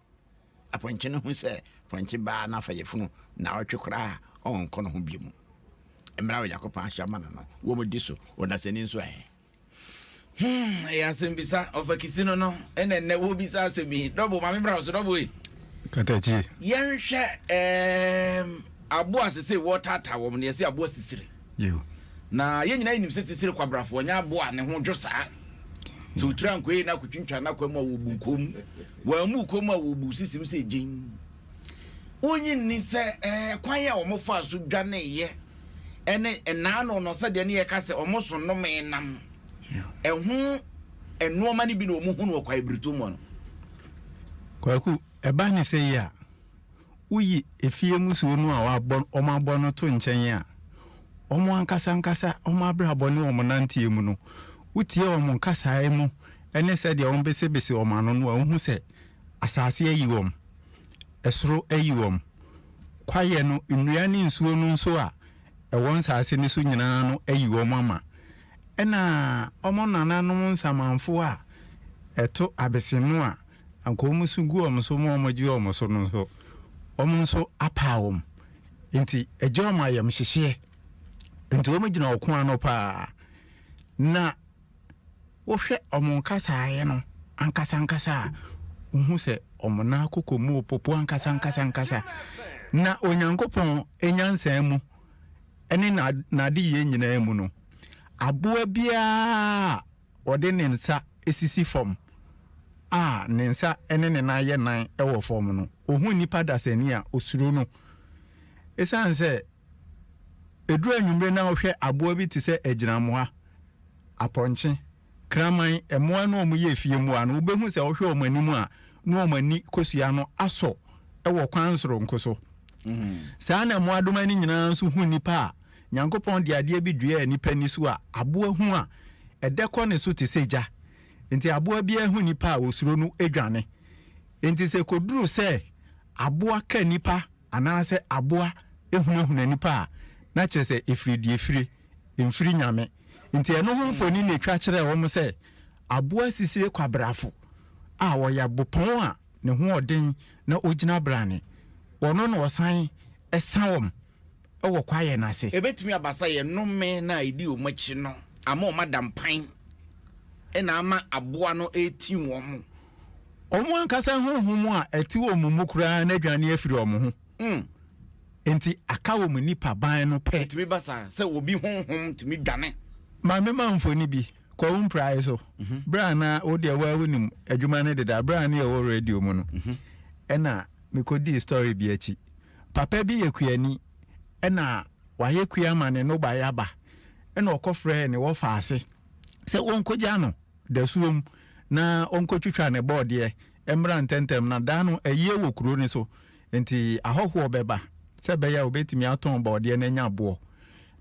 S2: Apɔnkye no hu sɛ pɔnkye baa no afa yafunu nnawɔtwe koraa a, ɔrenkɔ ne ho bio mu. Mmara a Onyankopɔn ahyɛ ama no no, wɔdi so. Ɔdasani nso ɛ? Hmm, ɛyɛ
S1: asɛmbisa. Ɔfakisi no no, ɛna ɛnnɛ wobisa asɛm yi. Dɔbo, maame bra so, dɔbo yi. Katakyi.
S3: Yɛnhwɛ ɛɛm
S1: aboa sesei wɔretaataa wɔn no, yɛse aboa sisire. Yiw.
S3: Na yɛn nyinaa
S1: nim sɛ sisire kwabrafoɔ nyɛ aboa a ne ho dwo saa. Sɛ ɔtiri ankoe na akɔtwintwa n'akwan mu a wɔbu kɔn mu. Wɔammu kɔn mu a wɔbu sisim sɛ gyen. Wonnye nni sɛ kwan a wɔfaa so dwaneeɛ ne nnaano no sɛdeɛ ne yɛka sɛ wɔso nomee nam ɛho nnoɔma no bi na wɔhu no wɔ kwaebiritɔ mu no.
S3: Kwaku, ɛba ne sɛ yi a, woyi efie mmusuo no a wɔabɔ no to nkyɛn a, wɔn ankasa ankasa wɔn abrabɔ ne wɔn nanteɛ mu no, wotie wɔn kasaeɛ mu ne sɛdeɛ wɔbesebese wɔn ano no a, wohu sɛ asase ayi wɔn, ɛsoro ayi wɔn. Kwaeɛ no, nnua ne nsuo no nso a ɛwɔ nsase no so nyinaa no ayi wɔn ama. Ɛna wɔn nananom nsamanfoɔ a ɛto abese no a, Anka wɔn nso gu wɔn so ma wɔagye wɔn so no nso, wɔn nso apaa wɔn. Nti ɛgye wɔn ayamhyehyeɛ. Nti wɔgyina ɔko ano paa. Na wohwɛ wɔn nkasaeɛ no ankasa ankasa a, wohu sɛ wɔn nan akoko mu popo ankasa ankasa ankasa. Na Onyankopɔn nyansa mu ne n'adeyɛ nyinaa mu no, aboa biara Ɔde ne nsa sisi fam a ne nsa ne ne nan yɛ nan wɔ fam no, ohu nnipa dasani a, osuro no. Esiane sɛ eduru anwummere na ɔhwɛ aboa bi te sɛ agyinamoa, apɔnkye, kraman, mmoa no a wɔyɛ afie mmoa no, wubehu sɛ ɔhwɛ wɔn anim a, na wɔn ani kosua no asɔ wɔ kwan soronko so. Saa ara na mmoadoma no nyinaa nso hu nnipa a, Nyankopɔn de adeɛ bi duaa nnipa ani so a aboa hu a, ɛdɛ kɔ ne so te sɛ gya. Enti aboa biara hu nnipa a, ɔsuro no dwane. Enti sɛ ɛkɔduru sɛ aboa ka nnipa anaasɛ aboa hunahuna nnipa a, na kyerɛ sɛ ɛfiri deɛ ɛfire, ɛmfiri Nyame. Enti ɛno ho mfoni na ɛtwa kyerɛɛ wɔn sɛ aboa sisire kwabrafo a ɔyɛ bopɔn a ne ho ɔden na ɔgyina brane. Ɔno na ɔsan sa wɔn. wɔ kwaeɛ no ase. Ɛbɛtumi aba sɛ yɛn
S1: nnome no a ɛdi wɔn akyi no ama wɔada mpan na ama aboa no retim wɔn. Wɔn
S3: ankasa honhom a ɛte wɔn mu koraa no adwane afiri wɔn ho. Mm. Enti aka wɔn nipaban no pɛ. Ɛtumi ba saa sɛ obi
S1: honhom tumi dwane. Ma mema
S3: mfoni bi. Kɔ wo mprae so. Mhm. Berɛ a na wo deɛ woa wonim adwuma no deda, berɛ a ne yɛwɔ radio mu no, mhm. ɛna mekɔdii story bi akyi. Papa bi yɛ kuani na wayɛ kua ama ne nnɔbaeɛ aba na ɔkɔfrɛɛ ne wɔfa ase sɛ wɔnkɔgya no dasuom na ɔnkɔtwitwa ne bɔɔdeɛ mmra ntɛmntɛm na da no ayie wɔ kuro no so nti ahɔhoɔ bɛba sɛ ɛbɛyɛ a wɔbɛtumi atɔn bɔɔdeɛ no anya boɔ.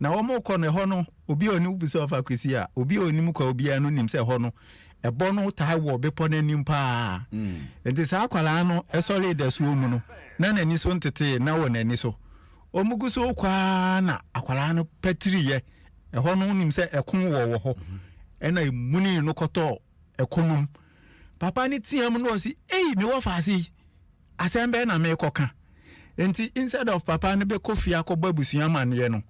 S3: Na wɔkɔ no ɛhɔ no obi a ɔnim, wobisa ɔfa Kwesi a, obi a ɔnim kwa obiara no nim sɛ ɛhɔ no ɛbɔ no taa wɔ bepɔ no anim paa mm. nti saa akwadaa no ɛsɔre dasuo mu no na n'ani so ntetee na wɔ n'ani so wɔn gu so kwaa na akwadaa no pɛtiriyɛ ɛhɔ no nim sɛ ɛko wɔ wɔ hɔ mm-hmm. ɛna emuni no kɔtɔ ɛko nom papa ne tia mu no ɔsi eyi mi wɔ faase yi Asɛm bɛn na merekɔka? Enti instead of papa no bɛkɔ fie akɔbɔ abusua amanneɛ no,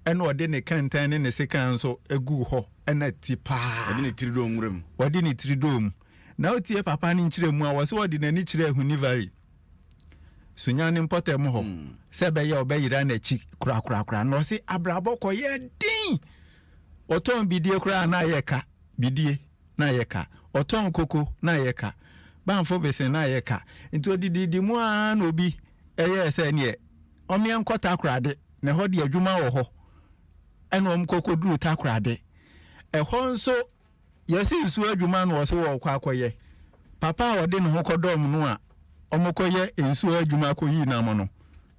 S3: ɛna ɔde ne kɛntɛn ne ne sekan nso guu hɔ, ɛna ti paa. Ɔde ne tiri dɔɔ nwura
S1: mu. Ɔde ne tiri dɔɔ mu.
S3: Na wotie papa no nkyerɛmu a, wɔse ɔde n'ani kyerɛɛ Hunivary, Sunya no mpɔtam hɔ, sɛ ɛbɛyɛ a ɔbɛyera n'akyi korakorakora. Na ɔse abrabɔ kɔyɛɛ den. Ɔtɔn bidie koraa a na ayɛ ka, bidie. na ayɛ ka, ɔtɔn koko na ayɛ ka, Banfo besen na ayɛ ka. Nti ɔdididi mu ara na obi yɛɛ sɛ neɛ ɔmeɛ nkɔ Takorade, na ɛhɔ deɛ adwuma wɔ hɔ, ɛna wɔn kɔ kɔduru Takorade. Ɛhɔ nso yɛse nsuo adwuma na wɔse wɔrekɔ akɔyɛ. Papa a ɔde ne ho kɔdɔm no a wɔkɔyɛ nsuo adwuma kɔyii nam no,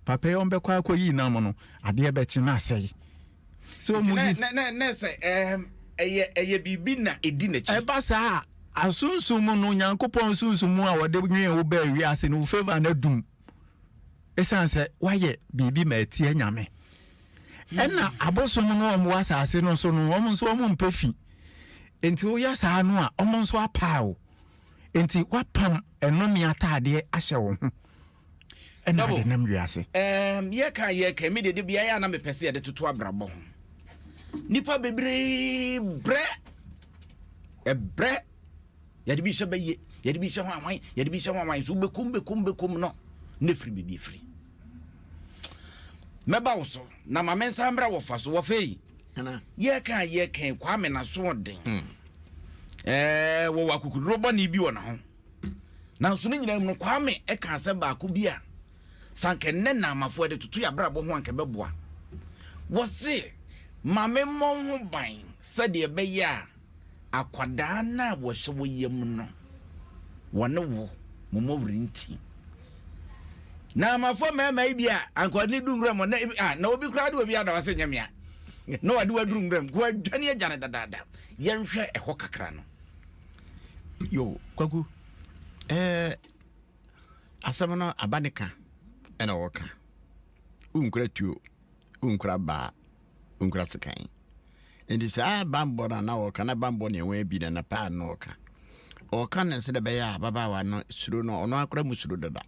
S3: Papa yi ɔmbɛkɔ akɔyi nam no adeɛ bɛkye na asɛe. Sɛ ɔmu yi. Nti na na sɛ
S1: ɛɛm ɛyɛ ɛyɛ biribi na ɛdi n'akyi. Ɛba saa a,
S3: asunsum no, Nyankopɔn sunsum a wɔde nwee wo baa wiase no, wo favour no adum. Ɛsiane sɛ woayɛ biribi ma atia Nyame. Ɛna abosom no a wɔwɔ asase no so no, wɔn nso wɔn mpɛ fi. Nti woyɛ saa no a, wɔn nso apaa wo. Nti woapam ɛnome ataadeɛ ahyɛ wo ho. Ɛna Double. ade nam wiase. Um, yɛka yɛka
S1: me deɛ de beaeɛ a na mepɛ sɛ yɛde toto abrabɔ ho nipa bebree brɛ ɛbrɛ yɛde bi hyɛ bɛyɛ yɛde bi hyɛ ho awan yɛde bi hyɛ ho awan so wobɛkum bɛkum bɛkum no ne firi biribi afiri mɛba wo so na ma me nsa mmra wɔfa so wɔfa yi Ana. yɛka
S2: yɛka
S1: kwame naso ɔden ɛɛ wɔwɔ akokoduro bɔne bi wɔ ne ho Nanso ne nyinaa mu no, Kwame ka asɛm baako bi a sɛ anka nnɛ Naamafoɔ de toto yɛn abrabɔ ho anka ɛbɛboa. Wɔse, Ma memmɔ wo ho ban sɛdeɛ ɛbɛyɛ a akwadaa no a wɔhyɛ wo yam no, wɔne wo mommɔ werinti. Naamafoɔ mmarima yi bi a anka wɔde ne du nwura mu na ebi a na obi koraa de obi ada wɔse nyɛ mea na wɔde waduru nwura mu nko adwane agya no dadaada. Yɛnhwɛ ɛhɔ kakra no.
S2: Yo, Kwaku, eh, asɛm no aba ne ka ɛna wɔka. Wonkura tuo, wonkura baa, wonkura sekan. Nti saa bambɔ no a na wɔka na bambɔ ne ɛwɔn abi na na paa no wɔka. Wɔka no sɛ na ɛbɛyɛ a ababaawa no suro no ɔno akora mu suro dada.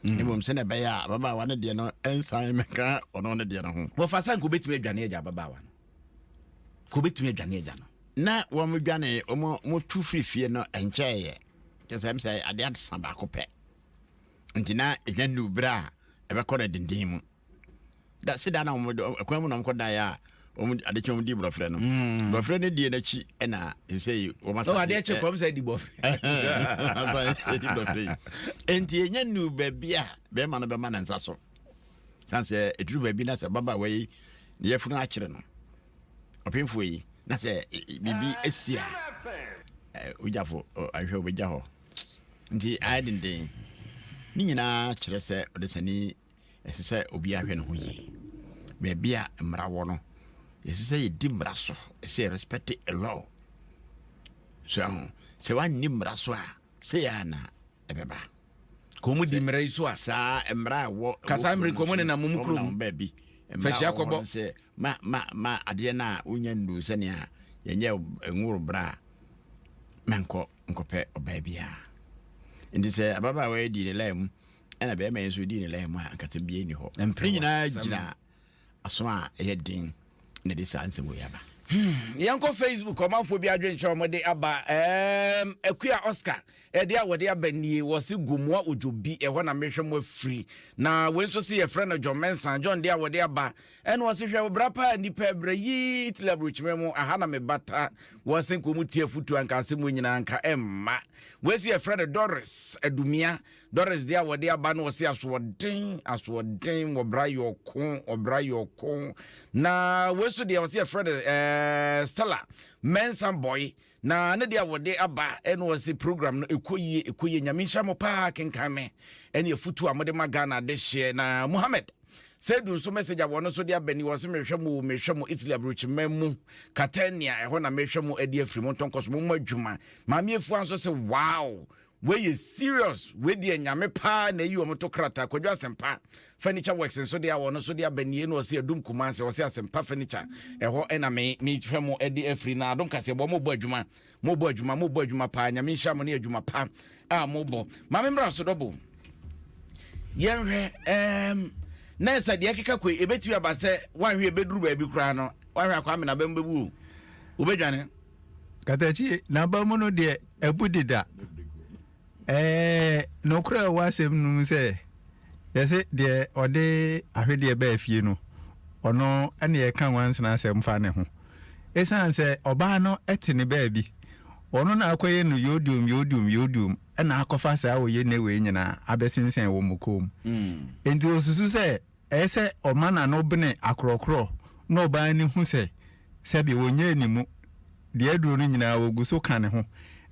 S2: Mm. Mmom sɛ na ɛbɛyɛ a ababaawa no deɛ no ɛnsan mɛka ɔno ne deɛ no ho. Wɔfa sɛ nka wobɛtumi adwane
S1: agya ababaawa no. Ka obɛtumi adwane agya no. Na wɔn dwane
S2: wɔn mo tu firi fie no ɛnkyɛɛyɛ kyɛ sɛ sɛ adeɛ asa baako pɛ nti na ɛnya nu berɛ a ɛbɛkɔ no denden mu da se da na wɔn ɛkwan mu na wɔn kɔ dan a wɔn ade kyɛ wɔn di borɔfrɛ no mm. borɔfrɛ no die n'akyi ɛna ɛsɛ yi wɔn asa adeɛ kyɛ kɔm sɛ di
S1: borɔfrɛ asa
S2: ɛdi borɔfrɛ yi nti ɛnya nu baabi a bɛrima no bɛma ne nsa so San sɛ ɛduru baabi na sɛ ababaawa yi ne yɛfunu akyere no ɔpemfoɔ yi na sɛ biribi asi a wogyafo ahwɛ wobɛgya hɔ nti ayɛ denden ne nyinaa kyerɛ sɛ ɔdesani ɛsɛ sɛ obi ahwɛ ne ho yie baabi a mmara wɔ no ɛsɛ sɛ yɛdi mmara so ɛsɛ yɛ respect a law so aho sɛ woanni mmara so a sɛ yɛ ana ɛbɛba kɔn
S1: di mmara yi so a saa mmara a ɛwɔ
S2: kasa mmiri kɔn ne nam
S1: mu kurom baabi fɛhyia
S2: kɔbɔ sɛ
S1: ma ma
S2: ma adeɛ no a wonya ndu sɛnea yɛnyɛ nworo bra a mankɔ nkɔpɛ ɔbaa biara nti sɛ ababaawa yɛ di ne lai mu ɛna bɛrima yɛ nso di ne lai mu a nkata bie ni hɔ ne nyinaa gyina aso a ɛyɛ den na ɛde saa nsɛm wei aba. Hmm, yɛnkɔ
S1: facebook ɔmanfoɔ bi adwenkyerɛ wɔde aba um, akua oscar ɛde a wɔde aba nie wɔ se gomoa odwo bi ɛhɔ na mehwɛ mo afiri na wei nso se yɛfrɛ no john mensa john de a wɔde aba ɛne wɔ se hwɛ bra paa nnipa brɛ yi tili aburokyima mu aha na mebata wɔ se nka ɔmu tie afotu anka asɛm mu nyinaa nka ɛmma wei se yɛfrɛ no doris adumia Doris deɛ a wɔde aba no ɔse asoɔden asoɔden wɔbra yɛ ɔko ɔbra yɛ ɔko na wei so deɛ ɔse yɛfrɛ no ɛɛ eh, Stella Mensah boy na ne deɛ a wɔde aba ɛna ɔse program no ɛkɔ yie ɛkɔ yie nyame nhyira mo paa kenkan me ɛne afutu a mode ma Ghana de hyeɛ na Mohammed sɛdu nso message a wɔno nso de aba ni wɔ se mehwɛ mo mehwɛ mo Italy aburokyima mu Catania ɛhɔ na mehwɛ mo adi afiri mo ntɔnkɔ so mo mo adwuma maame afua nso se wow Wei yɛ serious wei deɛ nyame paa na ayi wɔn to krataa kwadwo asɛmpa furniture works nso deɛ wɔn nso deɛ aba nie na ɔsɛ adum kumase ɔsɛ asɛmpa furniture ɛhɔ ɛna me me hwɛ mo ɛde afiri na adom kaseɛ bɔ mo bɔ adwuma mo bɔ adwuma mo bɔ adwuma paa nyame nhyira mo ne adwuma pa a mo bɔ maame mmra so dɔbo yɛnhwɛ ɛɛm na ɛsɛ deɛ ɛkeka kɔ ebetumi aba sɛ wanhwɛ ebeduru baabi koraa no wanhwɛ akɔ amena bɛn bɛbu o obedwane. Katakyie,
S3: n'aba mu no deɛ abu deda. Ɛɛ nokorɛ ɛwɔ asɛm no mu sɛ yɛse deɛ ɔde ahwedeɛ baa fie no ɔno ɛne yɛka nwansena asɛm fa ne ho. Ɛsiane sɛ ɔbaa no ɛte ne baabi ɔno na akɔyɛ no yodium yodium yodium ɛna akɔfa saa ɔyɛ ne wei nyinaa abɛsensɛn wɔ mo kɔn mu. Enti ɔsusu sɛ ɛyɛ sɛ ɔma n'ano bene akorɔkorɔ na ɔbaa ani hu sɛ sɛbe ɔnyɛɛ ne mu deɛ aduro no nyinaa wɔgu so ka ne ho.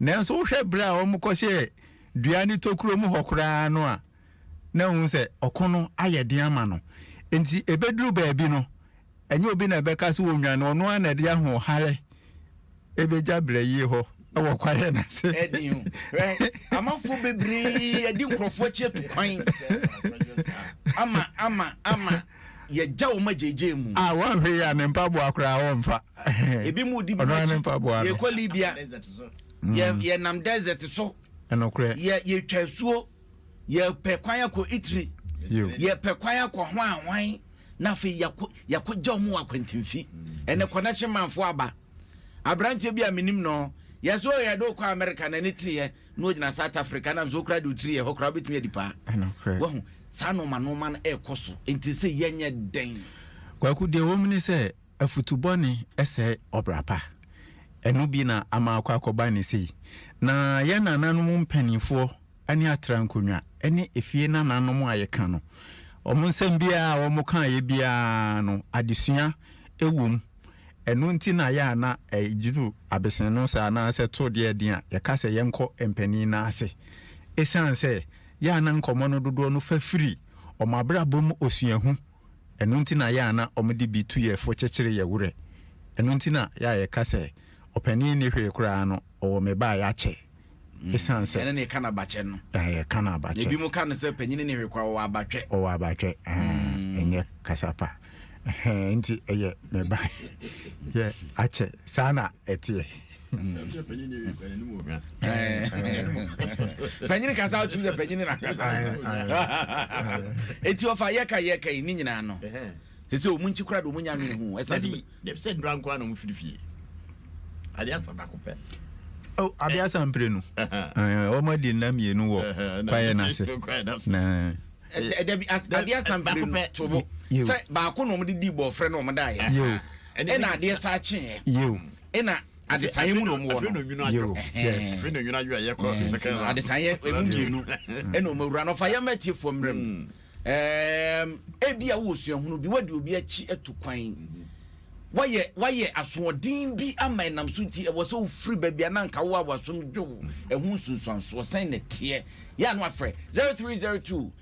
S3: Nanso wohwɛ berɛ a wɔkɔhyɛɛ dua no tokuro mu hɔ koraa no a, na wohu sɛ ɔko no ayɛ den ama no. Enti ɛbɛduru baabi no, Ɛnyɛ obi na ɛbɛka sɛ ɔnwane, ɔno ara na ɛde ahoɔhare ɛbɛgya brɛyie hɔ wɔ kwaeɛ no ase. Ɛden o, hwɛ,
S1: amanfoɔ bebree adi nkurɔfoɔ akyi atu kwan ama, ama, ama yɛagya wɔn agyegyeɛ mu. A wɔnhwɛ yi a ne
S3: mpaboa koraa wɔmfa. Ebi mu di
S1: bi mu akyi, yɛkɔ Libya, yɛnam desert so,
S3: yɛtwa asuo.
S1: yɛpɛ kwan akɔ Italy, yɛpɛ kwan akɔ ho ahwan na afei yɛakɔgya wɔn wɔ akwantimfi ɛnɛ connection manfoɔ aba aberanteɛ bi a menim no yɛ so yɛ de wokɔ America na ne tiri yɛ na ogyina South Africa na nso okura de otiri yɛ hɔ kora wobɛtumi adi paa wahu saa noma noma no ɛrekɔ so nti sɛ yɛnyɛ dɛn kwaku deɛ
S3: wɔm ne sɛ afutubɔne ɛsɛ ɔbra pa ɛno bi na ama akɔ akɔba ne sei na yɛn nananom mpanimfoɔ ne atra nkonnwa ne efie nananom a yɛka no. Wɔn nsɛm biara a wɔkaeɛ biara no, adesua wom. Ɛno nti na yɛ a na ɛduru abeseno saa anaasɛ to deɛ den a, yɛka sɛ yɛnkɔ mpanin no ase. Ɛsiane sɛ yɛ a na nkɔmmɔ no dodoɔ no fa firi wɔn abrabɔ mu osuahu Ɛno nti na yɛ a na wɔde bi tu yɛn fo kyekyere yɛn werɛ. Ɛno nti na yɛ a yɛka sɛ, Ɔpanin nni hwee koraa no, ɔwɔ me ba a yɛakyɛ. Esiane sɛ. Yɛne no reka no abakyɛ
S1: no. Ɛɛ, yɛka no abakyɛ. Na ebinom
S3: ka no sɛ, Ɔpanyin
S1: nni hwee koraa, ɔwɔ abatwɛ. Ɔwɔ abatwɛ. Ɛɛ, ɛnyɛ kasa pa. Ɛhɛɛ, enti ɛyɛ me ba yɛ akyɛ. Saa na ɛteɛ. panyini kasa wotumi sɛ panyini na kasa ɛti ɔfa yɛka yɛka yi ne nyinaa no sɛ sɛ ɔmu nkyi kora de ɔmu nya nwene ho ɛsɛ sɛ nnura nkoa
S2: na ɔmu firi fie adeɛ asa baako pɛ oh, adeɛ
S3: asa mpire no wɔn adi nna mmienu wɔ kwaeɛ no ase dabi
S1: adeɛ asa mpire no to bo sɛ baako na wɔn de di bɔɔfrɛ na wɔn da yɛ ɛna adeɛ sa kyeeɛ ɛna adesaeɛ mu na wɔn
S2: wɔ no adesaeɛ ɛmu mmienu
S1: ɛna wɔn awura no ɔfa yɛn mɛtie fo mmerɛ mu ebi a wɔ suahunu bi wɔde obi akyi atu kwan wɔyɛ wɔyɛ asoɔden bi ama ɛnam so nti ɛwɔ sɛ wofiri baabi a nanka wo a wasom dwo ɛho nsunsuansoɔ sɛn na teɛ yɛ ano afrɛ 0302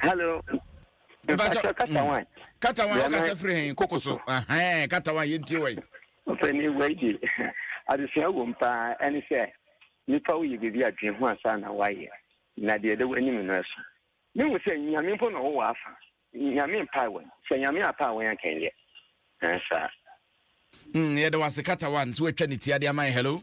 S1: Hello. Mpatsɔ kata wan. Kata wan ɔkasa firi hɛn koko so. Ahɛn kata wan yɛn tie wɔ yi. Ɔpɛni wɔ yi
S8: di adesua wɔ mu paa ɛne sɛ nipa wo yɛ biribi a dwen ho ansa na wayɛ na deɛ ɛda w'anim no ɛso. Me hu sɛ nyame mpo na ɔwɔ w'afa nyame mpae wɔn sɛ nyame apae wɔn anka nyɛ ɛnsaa.
S1: Mm, yɛda wase kata wan sɛ watwa ne ti ade ama yɛ. Hello.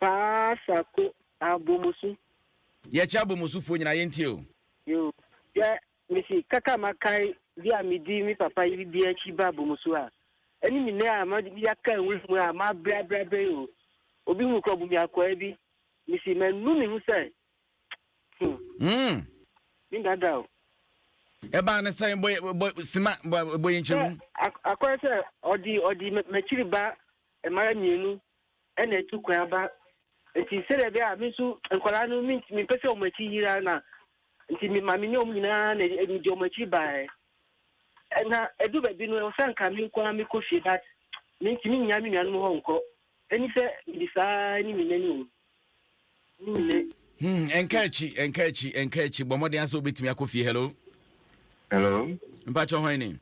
S1: Paa
S8: sako abomusu. Yɛ kyɛ
S1: abomusu foɔ nyinaa yɛ ntie o. Yoo
S8: yɛ mesi kaka ma kae bi a me di me papa yiri bi akyi ba abomusu a ɛne me nɛ a ma di bi aka nwura mu a ma abrɛ abrɛ abrɛ yi o obi hu kɔ bu me akwaa bi mesi ma nu me ho sɛ hmm. Me dada o. Ɛbaa ne
S1: sɛn bɔ bɔ sima bɔ yɛ nkyɛn mu. Akɔyɛ sɛ
S8: ɔdi ɔdi mɛkyiri ba mmara mmienu ɛna atu kwan aba nti sɛdeɛ ɛbɛyɛ a me nso nkwadaa no mempɛ sɛ wɔn akyi yera na nti me maame ne wɔn nyinaa na mede wɔn akyi baeɛ na ɛdu baabi no sɛ nka me nko ara mekɔ fie but mentumi nnya me nuanom hɔ nkɔ ɛni sɛ mede saa ne nyina ni o ne nyina Hmm, ɛnka akyi, ɛnka akyi, ɛnka
S1: akyi. Bɔ mmɔden asɛ wobɛtumi akɔ fie. Hello. Hello. Mpakyɛ hwan ni?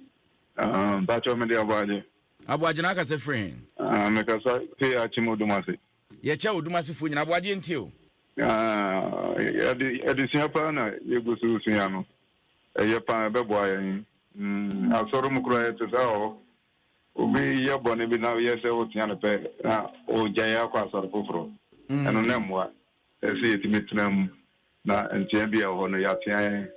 S1: Uh, Mpakyɛ
S9: mede abɔ agye. Aboagyena
S1: kasa firi he? Ah, mekasa
S9: firi Akyem Odomase. Yɛkyɛ Odomasefoɔ
S1: nyinaa. Aboagye nti o. Ah, ade,
S9: adesua paa na yɛgu so resua no. Ɛyɛ paa, ɛbɛboa yɛn. Mm, asɔre mu koraa yɛte saa wɔ hɔ. Obi yɛ bɔne bi na woyɛ sɛ wotea no pɛ na ɔgyae akɔ asɔre foforɔ. Ɛno na Mm. ɛmmoa. Ɛsɛ sɛ yɛtumi tena mu Na nteaa bi a ɛwɔ hɔ no, yɛatea yɛn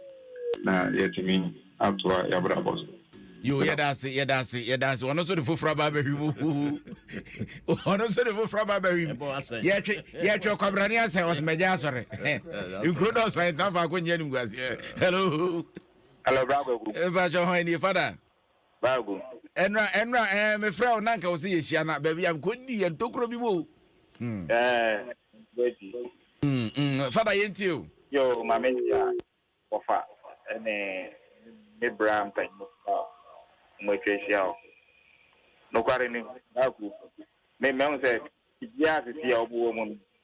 S9: na yɛatumi atoa yɛn abrabɔ so. Yoo, yɛda
S1: ase, yɛda ase, yɛda ase. Ɔno nso de foforɔ aba abɛhwim. Ɔno nso de foforɔ aba abɛhwim. Yɛtwe, yɛtwe kwabrane asɛ ɔsomagya asɔre. Nkuro dɔɔso a yɛtena faako nyɛ no nkuaseɛ. Hello. Hello, Bra
S9: Kwaku. Mpakyɛ hɔn
S1: nie, Father? Bag mu.
S9: Ɛnora, Ɛnora,
S1: ɛɛ, mefrɛ wo na anka wo sɛ yɛhyia na baabi a mekɔdi yɛ ntokuro bi mu o. Hmm. Ɛɛ, bɛdi. Hmm, hmm, fada yɛntie o. Yo, maame hyia
S9: wɔfa ɛne me bra mpanyin a wɔn atwa ahyia o. Nokware ni, bag mu. Me mɛhu sɛ biribiara sisi a wɔbɛwɔ mu no,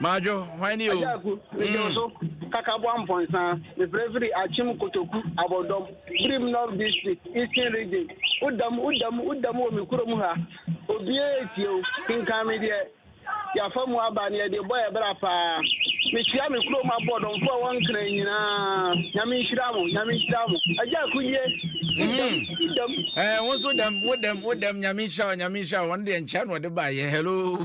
S8: Madwo, hwan
S1: ni o? Agyaku, mede wo mm. so.
S8: Kakaboa Mpɔnsa, mefrɛ firi Akyem Kotoku Abɔdɔm, Birim North District, Eastern Region. Wodam, wodam, wodam wɔ me kurom ha. Obiara etie o, kenkan me deɛ yɛafa mu aba ne yɛde bɔ yɛ bra paa. Mehyia me kurom abɔdɔmfoɔ a wɔnkra nyinaa. Nyame nhyira mo, nyame nhyira mo. Agyaku nie, wodam, mm. wodam. Ɛɛ,
S1: eh, wo nso dam, wodam, wodam, nyame nhyira wo, nyame nhyira wo. Wɔn deɛ nkyɛn na wɔde baeɛ, hello.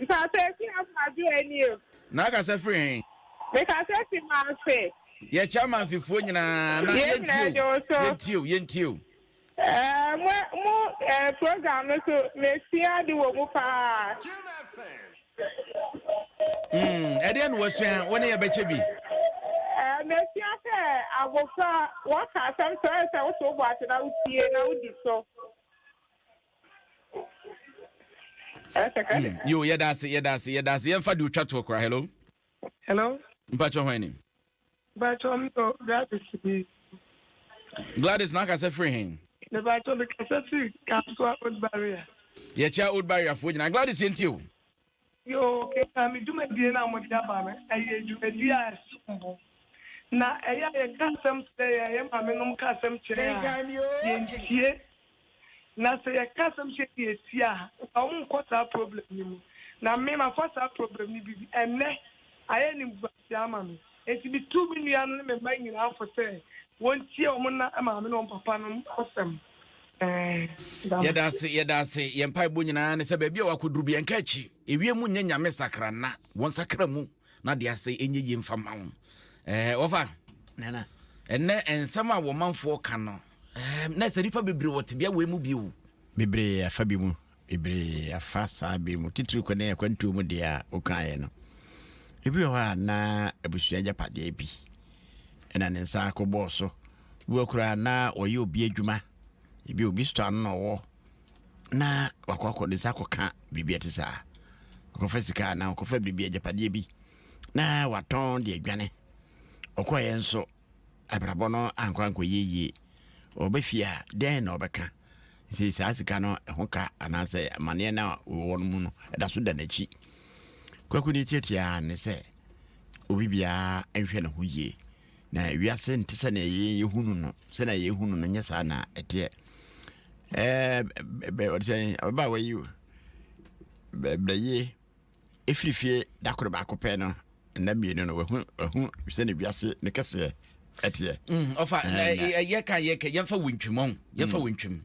S1: Mpatsɔ
S10: efi afa do eni o. Na akasa firi hen?
S1: Mekasa fi
S10: Manfe. Yɛkyɛ Amanfefoɔ
S1: nyinaa na Yɛn nyinaa yɛntie o, yɛgye wo so. yɛntie o, yɛntie o. Ɛɛ mo mo
S10: ɛɛ program no so mesua ade wɔ mu paa.
S1: Mm, ɛdeɛn na wasua? Wo ne yɛ bɛkyɛ bi. Ɛɛ
S10: mesua sɛ abofra wɔka asɛm sɛ ɔyɛ sɛ woto wo bo ase na wotie na wodi so.
S1: yo yɛda ase yɛda ase yɛda ase yɛmfa de otwa toɔ kora hello hello mpakyɛ hwan ni
S10: mpakyɛ
S1: mtɔ gladys bi gladys na akasɛ firi he mepakyɛ mekasɛ firi
S10: kasoa old barrier yɛkyɛ old
S1: barrier foɔ nyinaa gladys yɛntie o Yoo,
S10: kenkan me dwumadie no a mode aba no. Ɛyɛ dwumadie a ɛsom bo. Na ɛyɛ a yɛka asɛm kyerɛ yɛn, yɛn maamenom ka asɛm kyerɛ yɛn a, yɛntie. Na sɛ yɛka asɛm kyerɛ yɛn na yɛtie a, nka wɔn nkɔ saa problem no mu. Na me, mafa saa problem no bi. Ɛnnɛ, ayɛ animguase. de ama me. Enti mituu me nua no ne me mma nyinaa fo sɛ wontie wɔn
S1: nna maame ne wɔn papa no asɛm. Ɛɛ. Yɛda ase, yɛda ase. Yɛn mpaebɔ nyinaa ne sɛ baabi a wakɔduru bi, ɛnka akyi. Ewie mu nyɛ nyame sakra nna. Wɔnsakra mu na de ase ɛnyɛ yie mfa mma wɔn. Ɛɛ, wɔfa. Nana.
S2: Ɛnnɛ
S1: nsɛm a wɔmanfoɔ ka no, ɛɛ, na ɛsɛ nnipa bebree wɔ tebea wei mu bio. Bebree afa
S2: bi mu Bebree afa saa bere mu, titiriw kɔ ne akwantuo mu deɛ a wokaeɛ no. Ebi wɔ hɔ a na abusua agyapadeɛ bi na ne nsa akɔ bɔɔ so. Ebi wɔ koraa na wɔyɛ obi adwuma. Ebi obi sotɔ ano na ɔwɔ na wakɔ akɔ ne nsa akɔka biribi a ɛte saa. Ɔkɔfa sika anaa ɔkɔfa biribi agyapadeɛ bi na watɔn de adwane. Ɔkɔeɛ nso abrabɔ no ankɔ ankɔyɛ yie. Ɔba fie a, dɛn na ɔbɛka? Sɛ saa sika no ho ka anaasɛ amaneɛ no a ɔwɔ no mu no da so da n'akyi. Kwaku deɛ tiatiaa ne sɛ obi biara nhwɛ ne ho yie. Na wiase nte sɛnea yɛn yɛhunu no, sɛnea yɛhunu no nyɛ saa na ɛteɛ. Ɛɛ bɛ ɔde sɛ ababaawa yi o, bɛ brɛ yie. ɛfiri fie da koro baako pɛ no nna mmienu no wahu wahu sɛne wiase ne kɛseɛ ɛteɛ mm, ɔfa
S1: yɛka yɛka yɛmfa wontwim ɔn yɛmfa mm. wontwim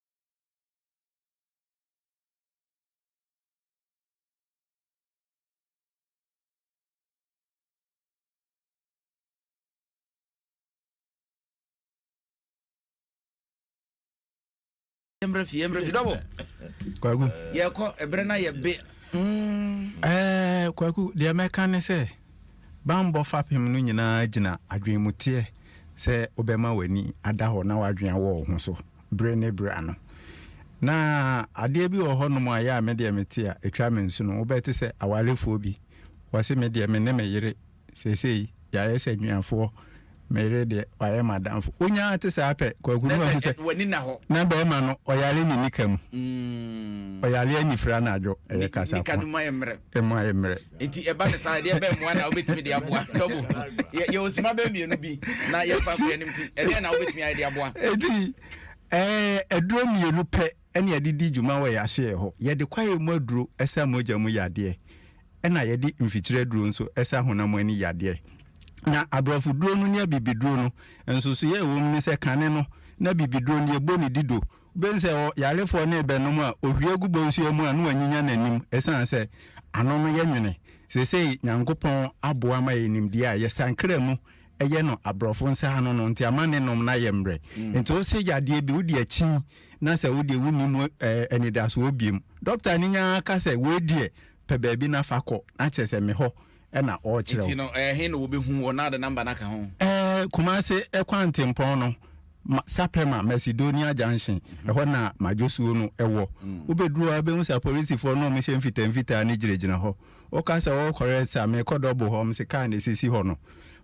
S1: yɛmmerɛ fie yɛmmerɛ fie dɔbɔ kwaku
S3: yɛkɔ ɛberɛ
S1: na yɛbe mm. eh,
S3: kwaku deɛ mɛka ne sɛ bambɔ fapem no nyinaa gyina adwenmuteɛ sɛ wobɛma w'ani ada hɔ na w'adwen awɔ wo ho so bere ne bere ano. Na adeɛ bi wɔ hɔnom a yɛ a me deɛ mete a ɛtwa me nsono wobɛte sɛ awarefoɔ bi wɔse me deɛ me ne me yere seesei yɛayɛ sɛ anuafoɔ me yere deɛ wayɛ madamfo wonyaa te saa pɛ kwakunu ahu sɛ na
S1: bɛrima no ɔyare
S3: ne nika mu mm. ɔyare anifira no adwo ɛyɛ kasa ko
S1: ɛmu ayɛ mmerɛ nti
S3: ɛba ne saa ɛdeɛ
S1: bɛn mmoa na wobɛtumi de aboa dɔbo yɛwɔ nsima bɛn mmienu bi na yɛmfa so yɛnim nti ɛdeɛ na wobɛtumi
S3: ayɛ de aboa ɛti aduro mmienu pɛ ɛne yɛde di dwuma wɔ yɛahyeɛ hɔ yɛde kwaeɛ mu aduro ɛsa mogya mu yadeɛ ɛna yɛde mfikyire aduro nso ɛsa honam ani yadeɛ na aborɔfo duro no ne abibiduro no nsosoyɛ ɛwɔ mu ne sɛ kane no na bibiduro no yɛbɔ ne dido Wobɛhu sɛ ɔyarefoɔ no rebɛnom a, ɔhwie gu bɔnsuo mu a, na wanyinya n'anim ɛsiane sɛ ano no yɛ nwene. Seesei Nyankopɔn aboa ama yɛn nimdeɛ a, yɛ sankra mu yɛ no aborɔfo nsa ano no nti ama ne nom no ayɛ mmerɛ. Nti wo se yadeɛ bi, wode akyin na sɛ wodeɛ wonni mu anidasoɔ biom. Dɔkta no nyaa ka sɛ, wei deɛ pɛ baabi na fa kɔ, na kyerɛ sɛ me hɔ ɛna ɔrekyerɛw. Nti no ɛhe na wɔbɛhu
S1: wɔ na ɔde namba no aka ho? Ɛɛ Kumase
S3: kwantempɔn no Sapɛma Macedonia junction mm -hmm. ɛhɔ na madwosuo no ɛwɔ mm. wobɛduru a wobɛhu sɛ apolisifoɔ no ɔmhyɛ mfitamfitaa no gyinagyina hɔ woka sɛ wɔkɔrɛ sɛ mekɔ dɔbo hɔ m se kaa na ɛsisi hɔ no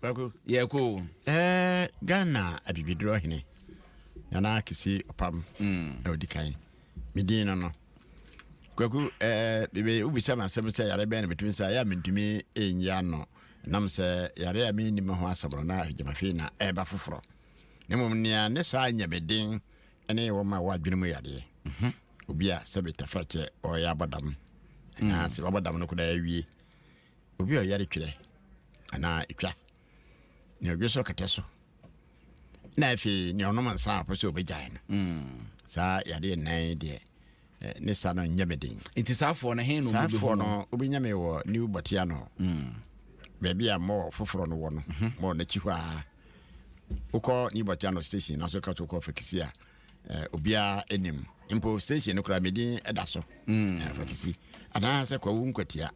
S1: Kwaku. Yɛ
S2: ko.
S1: Ɛɛ Ghana
S2: abibiduro ɔhene Nana Kisi Ɔpam mm. na odi kan. Me din no no. Kwaku ɛɛ bebe wobisa ma asɛm sɛ yare bɛn na metumi sɛ ayɛ a mentumi ɛnyi ano nam sɛ yare a menni me ho asɛm no na gyamafei na ɛba foforɔ. Na mmom nea ne saa nyɛ me den ɛne wɔn a wɔadwene mu yadeɛ. Mm -hmm. Obi a sɛbe tafrakyɛ ɔyɛ abɔdam. Mm. Anaasɛ wabɔdam no kodaa awie. Obi a ɔyare twerɛ anaa ɛtwa nea ɔdwe so kɛtɛ so na afei nea ɔnom nsa a ɔpɛ sɛ ɔbɛgyae no hmm. saa yadeɛ nnan deɛ eh, ne sa no nyɛ me den nti saafoɔ no he
S1: saafoɔ no wobɛnya
S2: me wɔ new bɔtea no hmm. baabi a mmɔ foforɔ no wɔ no mhm. mmɔ n'akyi hɔ a wokɔ new bɔtea no station naso ka so wokɔ fakisi a eh, obiara anim mpo station no koraa medin da so hmm. eh, fakisi anaasɛ kwawu nkwatia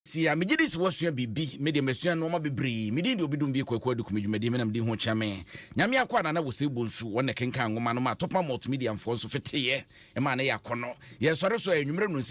S1: Seesei a, megye di sɛ woasua biribi. Me deɛ, masua nnoɔma bebree. Me din de Obidum Bie Kwaku Aduku, me dwumadie me nam di ho kyɛ me. Nyame Akoa Nana Wosei Bonsu, wɔn na ɛkenkan nwoma no maa Topman Multimedia-foɔ nso feteeɛ maa no yɛ akɔnnɔ. Yɛsɔre so a, anwummerɛ nnɔnsia.